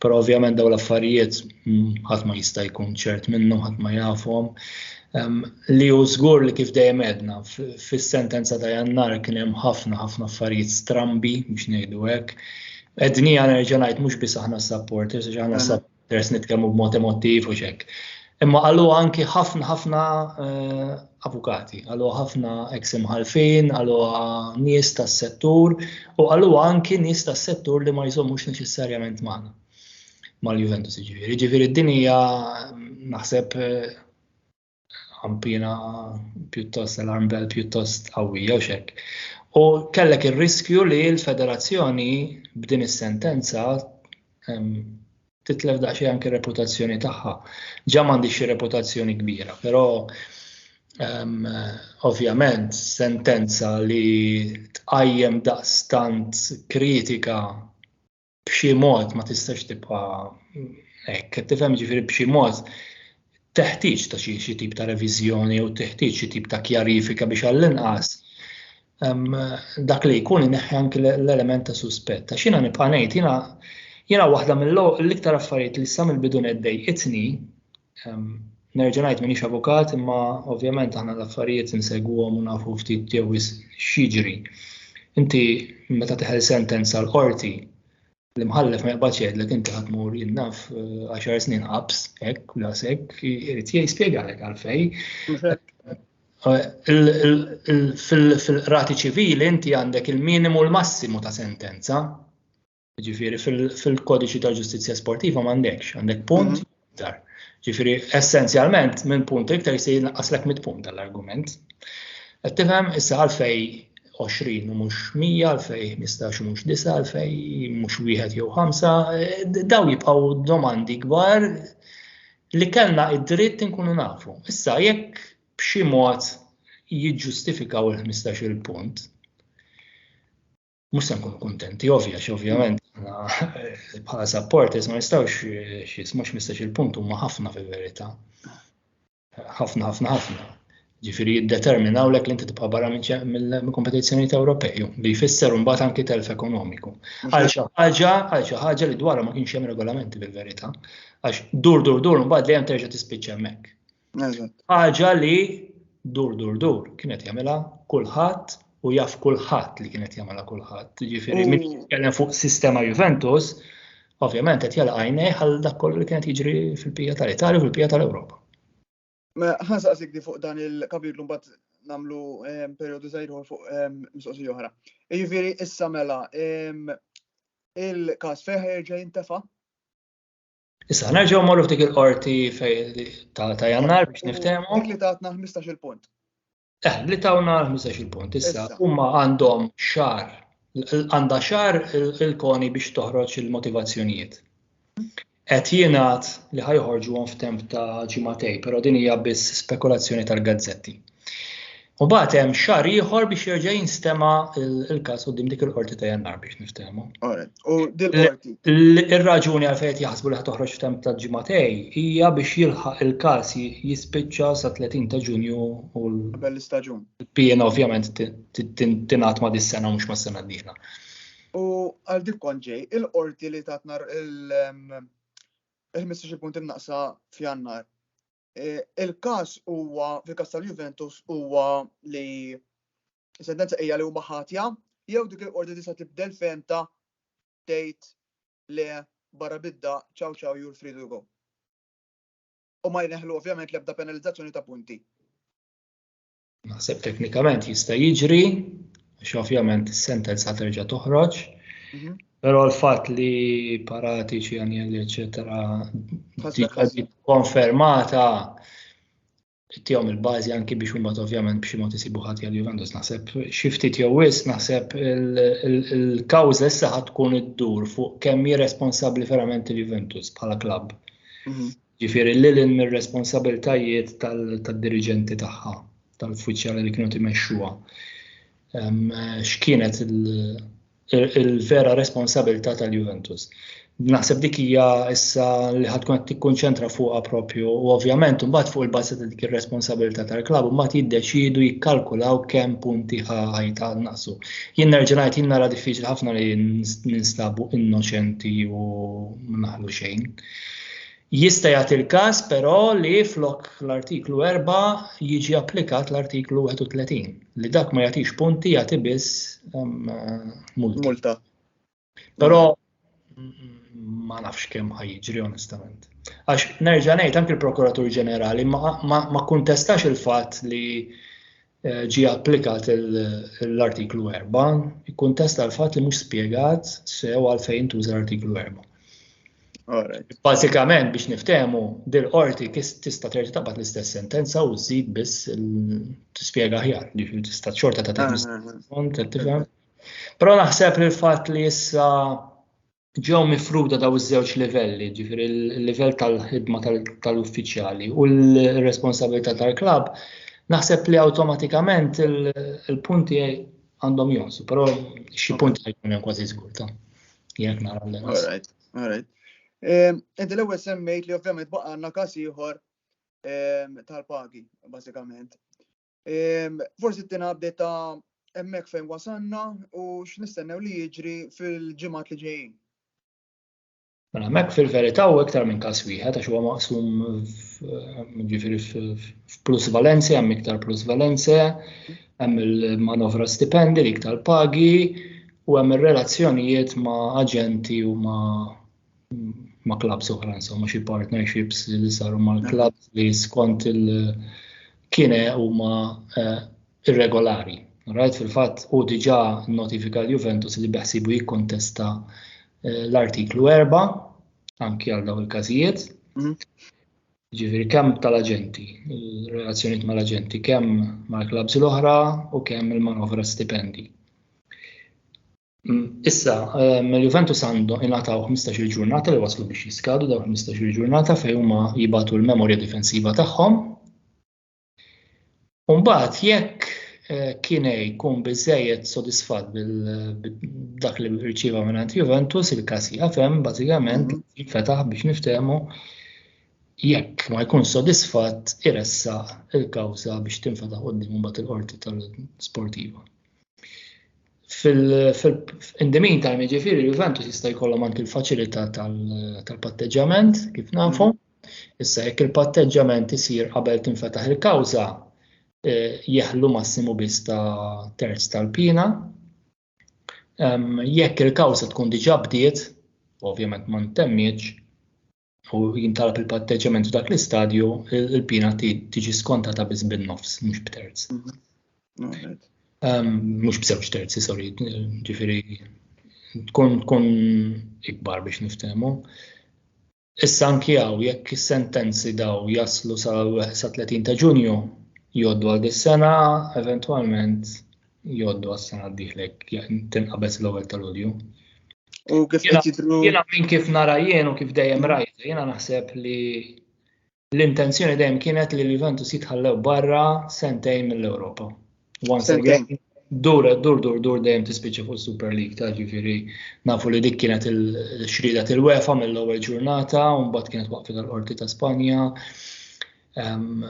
Però ovvjament dawn l-affarijiet mm, ħadd ma jista' jkun ċert minnhom, ħadd ma jafhom. li hu żgur li kif dejjem għedna fis-sentenza ta' Jannar kien hemm ħafna ħafna affarijiet strambi biex ngħidu hekk. Edni għana nerġa' ngħid mhux biss aħna supporters, għax aħna supporters nitkellmu b'mod emotiv u xek. Imma għallu anki ħafna ħafna eh, avukati, għallu ħafna ex imħalfin, għallu nies tas-settur u għallu anki nies tas-settur li ma jżommux neċessarjament magħna. mal-Juventus ġifiri. Ġifiri din hija naħseb ħampina pjuttost alarm bell pjuttost qawwija u xek. U kellek ir-riskju li l-federazzjoni b'din is-sentenza titlef daqsxejn anke reputazzjoni tagħha. Ġa m'għandix xi reputazzjoni kbira, però um, ovvjament sentenza li tqajjem daqstant kritika b'xi mod ma tistax tibqa' hekk, tifhem ġifieri b'xi mod teħtieġ ta' xi tip ta' reviżjoni u teħtieġ xi tip ta' kjarifika biex għall-inqas dak li jkun ineħħi anki l-element ta' suspett. Ta' xina nibqa' ngħid jiena jiena waħda mill-iktar affarijiet li sa mill-bidu neddej itni Nerġa' ngħid m'iniex avukat imma ovvjament aħna l-affarijiet insegwhom u nafu ftit jew x'jiġri. Inti meta teħel sentenza l-qorti l-imħallef ma jaqbadx jgħidlek inti ħadd mur jinnaf eh, għaxar snin qabs hekk u lasek irid jispjegalek għalfej. Fil-qrati ċivili inti għandek il-minimu l-massimu ta' sentenza. Ġifieri fil-kodiċi ta' ġustizzja sportiva m'għandekx, għandek punt mhm. iktar. Ġifieri essenzjalment minn punt iktar se jinqaslek mit punt tal-argument. Qed tifhem issa għalfej 20 u mhux 100, għalfej 15 u mhux 9, għalfej mhux wieħed jew 5, eh, daw jibqgħu domandi kbar li kellna id-dritt inkunu nafu. Issa jekk b'xi mod jiġġustifikaw il-15 il-punt, mhux se nkunu kuntenti, ovvja, ovvjament bħala supporters ma nistgħux xis, mhux mistax il-punt huma ħafna fil-verità. Ħafna, ħafna, ħafna. Ġifieri jiddeterminaw lek li inti tibqa' barra minn kompetizzjonijiet Ewropej, li jfisser mbagħad anki telf ekonomiku. Għal xi ħaġa, għal xi ħaġa li dwarha ma kienx hemm regolamenti fil-verità, għax dur dur dur mbagħad dejjem terġa' tispiċċa hemmhekk. Ħaġa li dur dur dur kienet jagħmilha kulħadd u jaf kulħadd li kienet jagħmilha kulħadd. Jiġifieri min mm. jitkellem fuq sistema Juventus, ovvjament qed jala għajnej għal dak kollu li kienet jiġri fil-pija tal-Italja u fil-pija tal-Ewropa. Ma ħansa għasik di fuq dan il-kapitlu mbagħad namlu ehm, periodu zaħirħu fuq ehm, mistoqsi oħra. Jiġifieri issa mela ehm, il-każ feħer ġej intefa' Issa nerġgħu morru f'dik il-qorti ta' jannar biex niftehmu. Li tatna 15 il-punt. Eh, li tawna 15 il-punt. Issa huma għandhom xar għandha xar il-koni biex toħroġ il-motivazzjonijiet. Qed jingħad li ħajħorġu f'temp ta' ġimatej, però din hija biss spekulazzjoni tal-gazzetti. U bat hemm xar ieħor biex jerġa' jinstema' il-każ qudiem dik il-qorti ta' jannar biex niftehmu. U dil-qorti. Ir-raġuni għal fejn jaħsbu li toħroġ f'temp ta' ġimatej hija biex jilħaq il-każ jispiċċa sa 30 ta' Ġunju u l-istaġun. Pien ovvjament tingħat ma' dis-sena mhux ma' sena d-dieħla. U għal dik kont ġej, il-qorti li tatna il-15 punt imnaqsa f'jannar Il-każ huwa, fil-każ tal-Juventus, huwa li sentenza hija li huma ħatja, jew dik il-qorti tista' tibdel femta tgħid le barra bidda ciao ciao you're free to go. U ma jneħlu ovvjament l-ebda penalizzazzjoni ta' punti. Naħseb teknikament jista' jiġri, għax ovvjament is-sentenza terġa' toħroġ, mhm. però l-fatt li paratiċi għanjel eċetera konfermata tijom il-bazi anki biex umma ovvjament biex imot isibu ħati għal Juventus naħseb xiftit jew wis naħseb il-kawza issa tkun id-dur fuq kemm hi responsabbli verament il-Juventus bħala klabb. Mhm. Ġifieri lil hinn mir-responsabbiltajiet tad-diriġenti tagħha, tal-uffiċjali li kienu timexxuha. X'kienet il-vera responsabilità tal-Juventus. Naħseb dik hija issa li ħadd tkun qed tikkunċentra fuqha propju u ovvjament imbagħad fuq il-bażi ta' dik ir-responsabilità tal-klabb imbagħad jiddeċiedu jikkalkulaw kemm punti ħajta naqsu. Jien nerġa' ngħid jien nara diffiċli ħafna li ninstabu innoċenti u ma naħlu xejn. Jista' jagħti l-każ però li flok l-Artiklu 4 jiġi applikat l-Artiklu 31 li dak ma jagħtix punti jagħti biss ehm, multa. multa. Però ma nafx kemm ħajġri onestament. Għax nerġa' ngħid anke l-Prokuratur Ġenerali ma, ma, ma kuntestax il-fatt li Eh, ġie applikat l-artiklu 4, ikkuntesta l-fatt li mhux spjegat sew għalfejn tuża l-artiklu 4. Bażikament biex niftehmu, dil qorti tista' terġa' tabgħat l-istess sentenza u żid biss tispjega ħjar, ġifieri tista' xorta ta' tifhem. Però naħseb li l-fatt li issa ġew mifruda daw iż-żewġ livelli, ġifieri l-livell tal-ħidma tal-uffiċjali u l-responsabilità tal-klabb, naħseb li awtomatikament il-punti għandhom jonsu, però xi punti għajkun hemm kważi żgur ta' jekk nara l All right, all right. Ehm, inti l-ewwel semmejt li ovvjament baqa' għandna każ ieħor ehm, tal-pagi, bażikament. Forsi t-tina update ta' emmek fejn wasanna u x'nistennew li jiġri fil-ġimgħat li ġejjin. Mela mek fil-verità u iktar minn każ wieħed għax huwa maqsum ġifieri f'plus valenze, hemm iktar plus valenze, hemm il-manovra stipendi li iktar pagi u hemm ir-relazzjonijiet ma' aġenti u ma' ma' clubs oħra, insomma xi partnerships li saru ma' clubs li skont il-kine huma eh, irregolari. Rajt fil-fatt u diġà notifika l-Juventus li beħsibu jikkontesta eh, l-artiklu 4 anki għal daw il-każijiet. Mhm. Ġifieri kemm tal-aġenti, relazzjoniet mal-aġenti, kemm mal-klabs l-oħra u kemm il-manovra stipendi. Mm, issa, ehm, Juventus għandu ingħataw 15-il ġurnata li waslu biex jiskadu daw 15-il ġurnata fejn huma jibatu l-memorja difensiva tagħhom. Umbagħad jekk eh, kiene jkun biżejjed sodisfatt bil-dak li rċieva minn Juventus, il-każ jafem bażikament mhm. jinfetaħ biex niftehmu jekk ma jkun sodisfatt iressa il-kawża biex tinfetaħ qudiem mbagħad il-qorti tal-sportiva. In the meantime, jiġifieri Juventus jista' jkollhom anki l-faċilità tal-patteġġjament kif nafu. Issa jekk il-patteġġjament isir qabel tinfetaħ il-kawża, eh, jeħlu massimu biss ta' terz tal-pina. Jekk il-kawża tkun diġà bdiet, ovvjament ma ntemmiġ, u jintalab il-patteġġjament f'dak l-istadju, il-pina tiġi skontata biss bin-nofs, mhux b'terz. Mhm. Ehm, mhux b'żewġ terzi, sorry, ġifieri tkun tkun ikbar biex niftehmu. Issa anki hawn jekk is-sentenzi daw jaslu sa 30 ta' Ġunju jgħoddu għal dis-sena, eventwalment jgħoddu għas-sena d-dieħlek tinqabeż l-ewwel tal-Ulju. U kif qed jidru. Jiena minn kif nara jien u kif dejjem rajt, jiena naħseb li l-intenzjoni dejjem kienet li l-Juventus jitħallew barra sentejn mill-Ewropa. Once again, dur, dur, dur, dur dejjem tispiċċa fuq Super League ta' ġifieri nafu li dik kienet il-xrida til-wefa mill-ewwel ġurnata, u mbagħad kienet waqfet tal-qorti ta' Spanja. Ehm,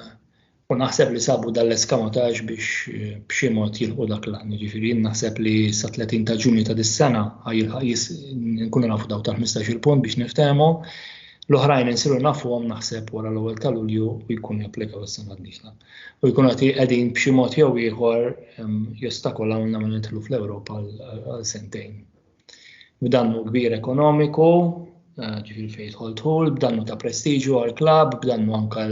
U naħseb li sabu dal-eskamatax biex eh, b'xi mod jilħu dak l-għan. Ġifiri, naħseb li sa 30 ta' ġunju ta' dis-sena nkunu nafu daw ta' 15 il-punt biex niftehmu. L-oħrajn insiru nafu għom naħseb wara l-ewwel ta' Lulju u jkun japplikaw is-sena d U jkun għati qegħdin b'xi mod jew ieħor jostakolaw nagħmel nidħlu fl-Ewropa għal sentejn. B'dannu kbir ekonomiku, eh, ġifir fejn jidħol dħul, b'dannu ta' prestiġju għal klab, b'dannu anka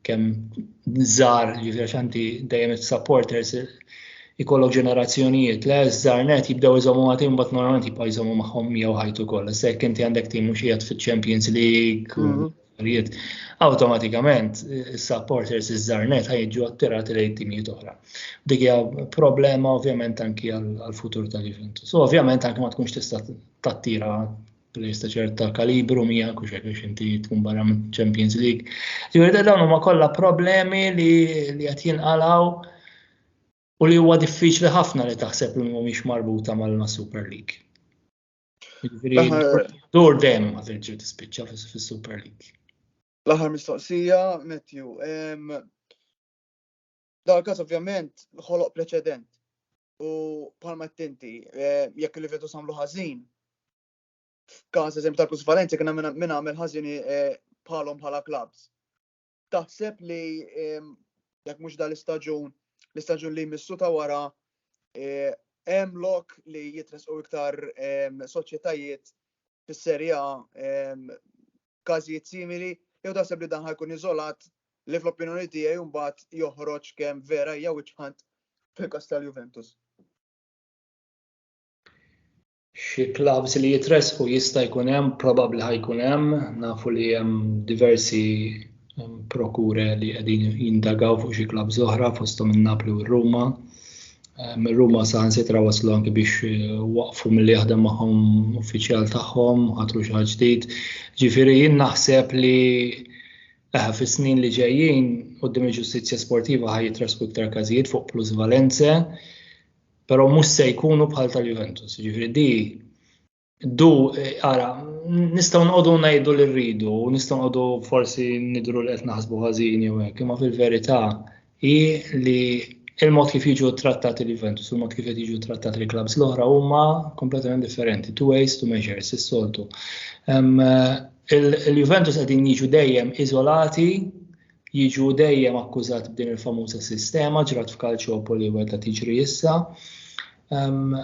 kemm żar ġifir xanti dejjem supporters ikollok ġenerazzjonijiet le żar net jibdew iżommu għatim bat normalment jibqa' jżommu magħhom jew ħajtu kollha. Se inti għandek tim mhux qiegħed fiċ-Champions League mhm. il-ġudizzjonijiet, awtomatikament is-supporters iż-żarnet ħajġu attirati lejn timijiet oħra. Dik hija problema ovvjament anki għall-futur ta' Juventus. So, ovvjament anki ma tkunx tista' tattira players ta' ċerta kalibru mija kux hekk biex inti tkun barra minn Champions League. Ġifieri da dawn huma kollha problemi li li qed jinqalgħu u li huwa diffiċli ħafna li taħseb li mhumiex marbuta mal-Super League. Dur dem ma terġa' tispiċċa fis-Super League. L-aħħar mistoqsija, Matthew. Dal każ ovvjament ħoloq preċedent u palma tinti eh, jekk li vetu samlu ħażin. F'każ eżempju tal-Plus Valencia kien minn għamel ħażin eh, bħalhom bħala klabs. taħseb li jekk mhux dal-istaġun, l-istaġun li jmissu ta' wara eh, hemm lok li jitresqu iktar soċjetajiet fis-serja każijiet simili, jew taħseb li dan ħajkun iżolat li fl-opinjoni tiegħi mbagħad joħroġ kemm vera jew iċħant fil-kas tal-Juventus. Xi klabbs li jitressqu jista' jkun hemm, probabbli ħajkun hemm, nafu li hemm diversi prokure li qegħdin jindagaw fuq xi klabbs oħra fosthom in-Napli u r-Ruma. Ehm, Ruma saħansitra waslu anki biex eh, waqfu mill jaħdem magħhom uffiċjal tagħhom, ħatru xi ħaġa ġdid. Ġifieri jien naħseb li eħa eh, fis-snin li ġejjin qudiem il-ġustizzja sportiva ħaj jitrasku iktar każijiet fuq plusvalenze. Però mhux se jkunu bħal tal-Juventus, jiġifieri di du ara nistgħu nqogħdu ngħidu li rridu, nistgħu nqogħdu forsi nidru li qed naħsbu ħażin jew hekk, imma fil-verità hi li il-mod kif jiġu trattati l-Juventus, il-mod kif qed jiġu trattati l-klabs l-oħra huma kompletament differenti, two ways to measure, is-soltu. Il-Juventus qegħdin jiġu dejjem iżolati jiġu dejjem akkużati b'din il-famuża sistema ġrat f'Kalċopoli u qed tiġri issa. Ehm,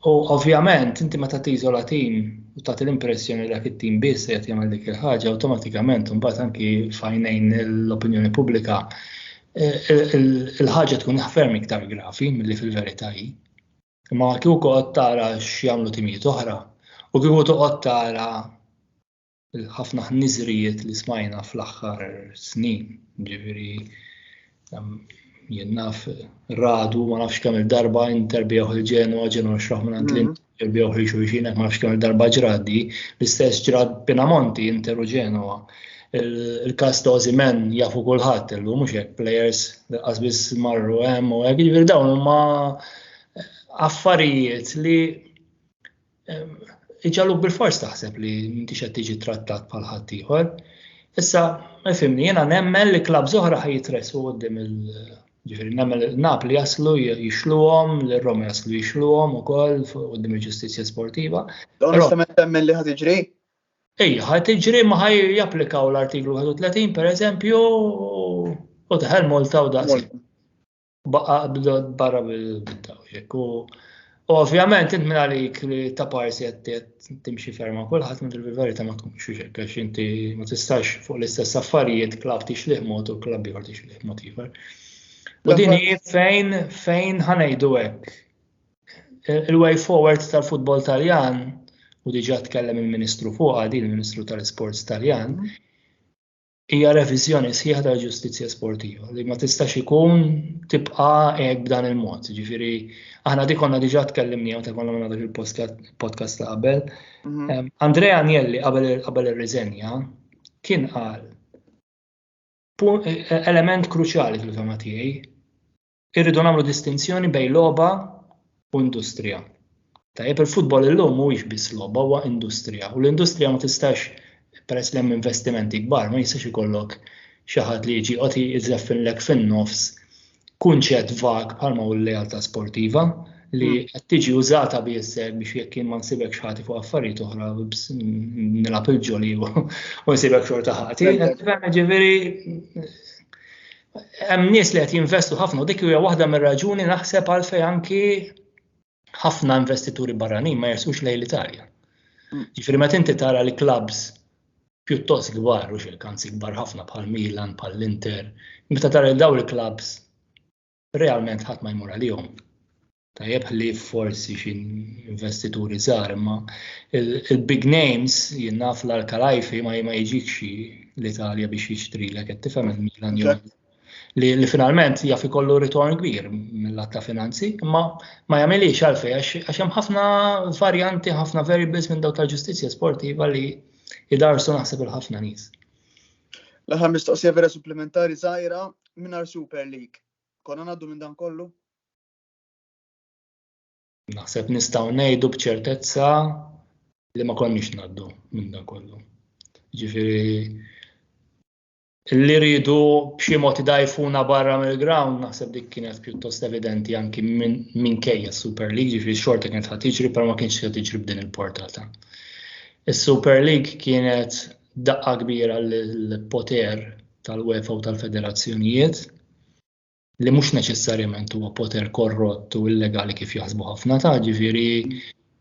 u ovvjament inti meta tiżola tim u tagħti l-impressjoni li dak it-tim biss qed jagħmel dik il-ħaġa awtomatikament imbagħad anki fajnejn l-opinjoni pubblika e, e, il-ħaġa tkun ferm iktar grafi milli fil-verità hi. Ma kieku qod tara x'jagħmlu timijiet oħra u kieku toqgħod tara il-ħafna ħniżrijiet li smajna fl-aħħar snin, ġifieri jien naf radu ma nafx kemm il-darba interbieħ il-ġenu ġenu xraħ minn għand mhm. interbieħ li xulxin ma nafx kemm il-darba ġradi, l-istess ġrad Pinamonti interu ġenwa. Il-kas ta' Ozimen jafu kulħadd illum mhux hekk players li qasbis marru hemm u hekk jiġifieri dawn huma affarijiet li iġaluk bil-fors taħseb li m'intix qed tiġi trattat bħal ħaddieħor. Issa, fimni, jiena nemmen li klab zoħra ħaj jitressu għoddim il- ġifiri, nemmen Napli jaslu jixluhom, l-Roma jaslu jixluhom u koll għoddim il-ġustizja sportiva. Onestament temmen li ħad iġri? Ej, ħad iġri ma ħaj japplikaw l-artiklu 31 per eżempju u taħel Malta u daqsi. Baqa bdod barra bil-bittaw jekk u Ovvjament, int minn għalik li ta' parsi għattiet timxi ferma kullħat minn il-verita ma tkunx xiex għax inti ma tistax fuq l-istess affarijiet klab tix liħmot u klab jħor tix liħmot jħor. U din hi fejn fejn ħanejdu hekk. Il-way forward tal-futbol taljan u diġa tkellem il-Ministru fuqha din il-Ministru tal-Sports Taljan, hija reviżjoni sħiħa tal-ġustizzja sportiva li ma tistax ikun tibqa' hekk b'dan il-mod. Ġifieri aħna dik konna diġà tkellimni meta konna minn dak il-podcast ta' qabel. Mhm. Andrea Agnelli qabel ir-riżenja kien qal e- e- element kruċjali fil-fema tiegħi irridu nagħmlu distinzjoni bejn logħba u industrija. Tajjeb il-futbol illum mhuwiex biss logħba huwa industrija u l-industrija ma tistax peress li hemm investimenti kbar ma jistax ikollok xi ħadd li jiġi qoti iżeffinlek fin-nofs kunċett vag bħalma hu l-lealtà sportiva li hmm. qed tiġi użata biss biex jekk jien ma nsibek xħati fuq affarijiet oħra nilab il-ġoli u nsibek xorta ħati. Ġifieri hemm nies li qed jinvestu ħafna u dik hija waħda mir-raġuni naħseb għalfejn anki ħafna investituri barranin ma jersux lejn l-Italja. Mm. Ġifieri meta inti tara li klabs pjuttost kbar u xilkanzi kbar ħafna bħal Milan, bħal Inter, meta tara li daw il-klabs realment ħadd ma jmur għalihom. tajjeb ħlief forsi xi investituri żgħar, imma il-big names jien naf l-Arkalajfi ma ma jiġix l-Italja biex jixtrilek qed tifhem il-Milan jew li, li finalment jaf ikollu ritorn kbir mill-atta finanzi, imma ma jagħmilix għalfej għax hemm ħafna varjanti, ħafna variables minn dawk tal-ġustizzja sportiva li jidarsu naħseb il-ħafna nies. L-aħħar mistoqsija vera supplementari żgħira mingħajr Super League. Konna ngħaddu minn dan kollu? Naħseb nistgħu ngħidu b'ċertezza li ma konniex ngħaddu minn dan kollu. Ġifieri li rridu b'xi mod idajfuna barra mill-ground naħseb dik kienet pjuttost evidenti anki minn kejja Super League, ġifieri xorta kienet ħad tiġri però ma kienx ħad tiġri b'din il-portata. Is-Super League kienet daqqa kbira l-poter tal-UEFA u tal-federazzjonijiet li mhux neċessarjament huwa poter korrott u illegali kif jaħsbu ħafna ta' ġifieri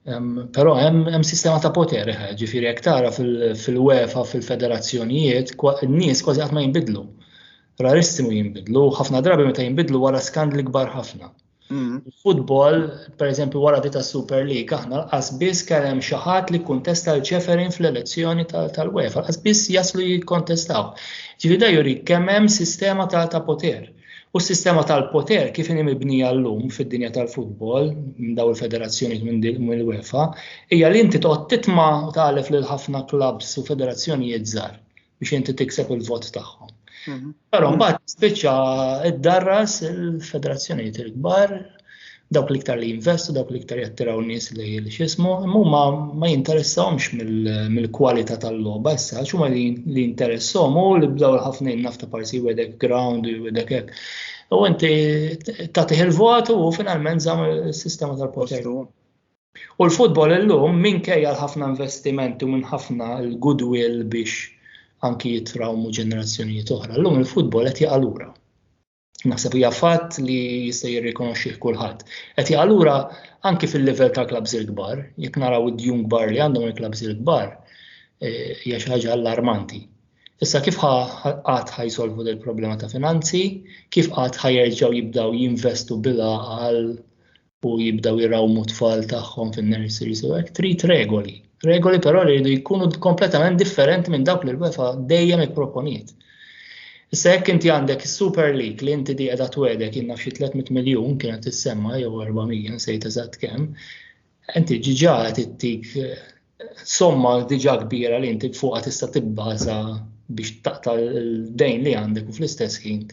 Però hemm sistema ta' poter, eh, ġifieri jekk tara fil-UEFA, fil-federazzjonijiet, n-nies kważi qatt ma jinbidlu. Rarissimu jinbidlu, ħafna drabi meta jinbidlu wara skandli kbar ħafna. Mm. Futbol, per eżempju, wara di ta' Super League, aħna qasbis kellem xi ħadd li kuntesta l-ċeferin fl-elezzjoni tal-UEFA, qasbis jaslu jikkontestaw. Ġifieri dan jurik kemm hemm sistema ta' ta' poter. U s-sistema tal-poter kif inhi mibnija llum fid-dinja tal-futbol, minn daw il-federazzjonijiet minn din minn UEFA, hija li inti toqgħod titma' u tagħlef lil ħafna klabbs u federazzjonijiet żgħar biex inti tikseb il-vot tagħhom. Però mbagħad tispiċċa ddarras il-federazzjonijiet il-kbar dawk l-iktar li jinvestu, dawk l-iktar jattiraw nies li xismu, imma ma jinteressawhomx mill-kwalità tal-logħba issa, xuma li jinteressahom u li bdaw ħafna nafta parsi wedek ground u wedek hekk. U inti tagħtih il-vot u finalment żamm is-sistema tal-poter. U l-futbol illum minkejja l-ħafna investimenti u minn ħafna l-goodwill biex anki jitrawmu ġenerazzjonijiet oħra. Llum il-futbol qed jaqalura. Naħseb hija fatt li jista' jirrikonoxxih kulħadd. Qed jaqalura anki fil-livell ta' klabs il-kbar, jekk naraw id-djun kbar li għandhom il-klabs il-kbar, eh, hija xi ħaġa allarmanti. Issa kif qatt ħajsolvu del problema ta' finanzi, kif qatt ħajerġgħu jibdaw jinvestu bila għal u jibdaw jirawmu tfal tagħhom fin-nurseries u hekk trid regoli. Regoli però li jridu jkunu kompletament differenti minn dawk li l-UEFA dejjem ipproponiet. Issa jekk inti għandek is-Super League li inti di qiegħda twedek jien nafx 300 miljun kienet tissemma jew 400 nsejt eżatt kemm, inti ġiġa qed ittik somma diġà kbira li inti fuqha tista' tibbaża biex taqta' l-dejn li għandek u fl-istess ħin.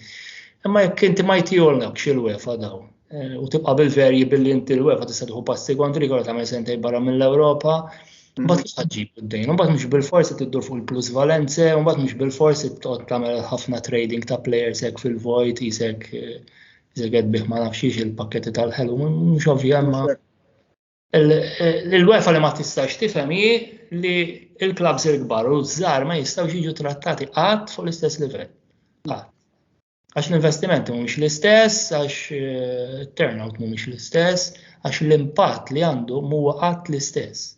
Imma jekk inti ma jtijolnak xil wefa daw eh, u tibqa' bil-verji billi inti l wefa tista' tieħu passi kontri kollha tagħmel sentej barra mill-Ewropa, Mbagħad kif ħaġġib id-dejn, mbagħad mhux bil-forsi tiddur fuq il-plus valenze, mbagħad mhux bil-forsi tqgħod tagħmel ħafna trading ta' players hekk fil-vojt, isek eh, isek qed bih ma nafx il-pakketti tal-ħelu, mhux ovvja ma. L-UEFA li ma tistax tifhem hi li l-klabs il-kbar u ż-żgħar ma jistgħux jiġu trattati qatt fuq l-istess livell. Għax l-investimenti mhumiex l-istess, għax eh, turnout mhumiex l-istess, għax l-impatt li għandu mhuwa qatt l-istess.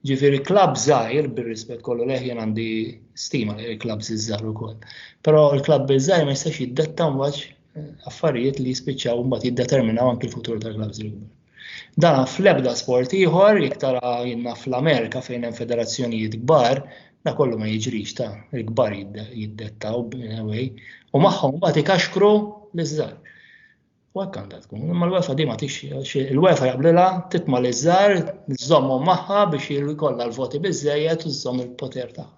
Ġifieri klab żgħir bir-rispett kollu leħ jien għandi stima li l-klab żgħar ukoll. Però l-klab żgħir ma jistax jiddetta mwaġġ affarijiet li jispiċċaw mbagħad jiddeterminaw anki l-futur tal-klabbs il-kbar. Dan fl-ebda sport ieħor, jekk tara jinnna fl-Amerika fejn hemm federazzjonijiet kbar, da kollu ma jiġrix ta' il-kbar jiddettaw b'newej u magħhom mbagħad ikaxkru l-iżżar. U hekk għandha tkun, imma l-UEFA di ma tix, il-UEFA jaqblilha titma' l-iżżar, żommhom magħha biex jkollha l-voti biżejjed u żomm il-poter tagħha.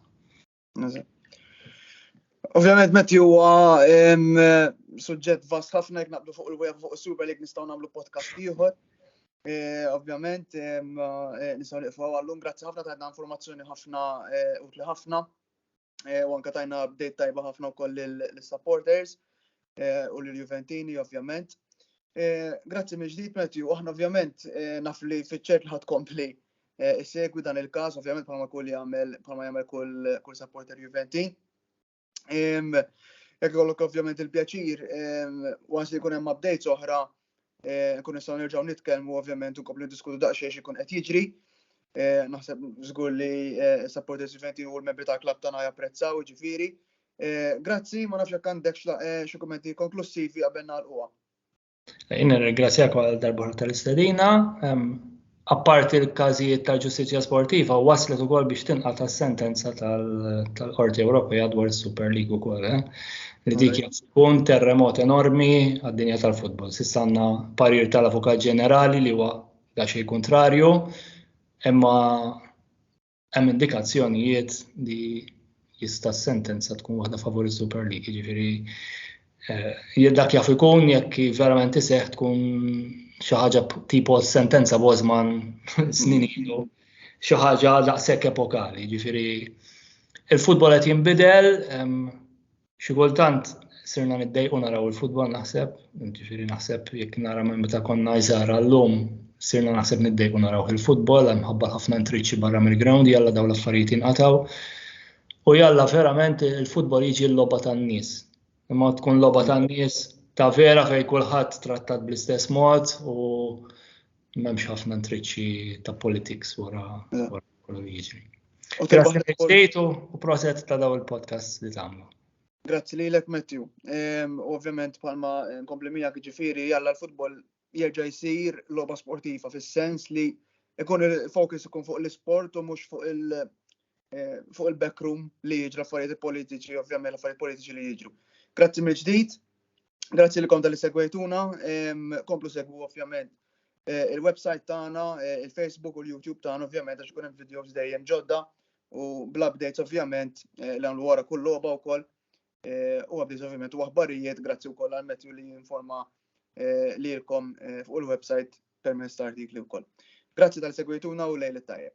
Ovvjament meti huwa suġġett vast ħafna jekk naqblu fuq il-web fuq is-Super League nistgħu nagħmlu podcast ieħor. E, ovvjament e, nistgħu niqfu għallum grazzi ħafna tajna informazzjoni ħafna e, utli ħafna u anke tajna update tajba ħafna wkoll lis-supporters. eh, u lil Juventini ovvjament. Eh, grazzi minn ġdid Matthew, aħna ovvjament eh, naf li fiċċert li ħad kompli segwi dan il-każ, ovvjament bħalma kull jagħmel bħalma jagħmel kull kull supporter Juventin. Jekk ikollok ovvjament il-pjaċir, waqt li jkun hemm updates oħra, Eh, kun nistgħu nerġgħu nitkellmu ovvjament u kopli diskutu daqsxejn ikun qed jiġri. Eh, naħseb żgur li eh, sa parteċipanti u l-membri tal-klabb tagħna japprezzaw ġifieri. Grazzi, ma nafx jekk għandek xi kummenti konklussivi qabel nagħlquha. Inna ringrazzjak għal darba tal-istedina. apparti l-każijiet tal-ġustizzja sportiva, waslet ukoll biex tinqal tas-sentenza tal-Qorti Ewropea dwar is-Super League ukoll. Eh? Li dik tkun terremot enormi għad-dinja tal-futbol. S'issa għandna parir tal-Avukat Ġenerali li huwa da xejn kontrarju, imma hemm indikazzjonijiet li jista' sentenza tkun waħda favori Super League, jiġifieri eh, dak jaf ikun jekk verament iseħħ tkun xi ħaġa tipo sentenza Bosman snin ilu, xi ħaġa daqshekk epokali, jiġifieri il-futbol qed jinbidel, Xi kultant sirna niddejqu naraw il-futbol naħseb, ġifieri naħseb jekk nara minn meta konna iżgħar għallum sirna naħseb niddejqu naraw il-futbol hemm ħabba ħafna intriċċi barra mill-ground jalla dawn l-affarijiet jinqataw. U jalla verament il-futbol jiġi l-logħba tan-nies. Imma tkun logħba tan-nies ta' vera fejn kulħadd trattat bl-istess mod u m'hemmx ħafna intriċċi ta' politics wara. kollu jiġri. Grazie u proset ta' daw il-podcast li tagħmlu. Grazzi li l-ek Matthew. Ovvjament palma nkompli miegħek ġifieri jalla l-futbol jerġa' jsir logħba sportiva fis-sens li ikun il-fokus ikun fuq l-isport u mhux fuq il- eh, fuq il-backroom li jiġra affarijiet politiċi, ovvjament affarijiet politiċi li jiġru. Grazzi mill-ġdid Grazzi li konta li segwejtuna, komplu segwu ovvjament eh, il-website tagħna, eh, il-Facebook u l-YouTube tagħna ovvjament għax ikun hemm videos dejjem ġodda u bl-updates ovvjament eh, li għamlu wara kull logħba wkoll u updates ovvjament u aħbarijiet grazzi wkoll għal Matthew li jinforma lilkom fuq il-website permezz ta' artikli wkoll. Grazzi tal-segwejtuna u lejl it-tajjeb.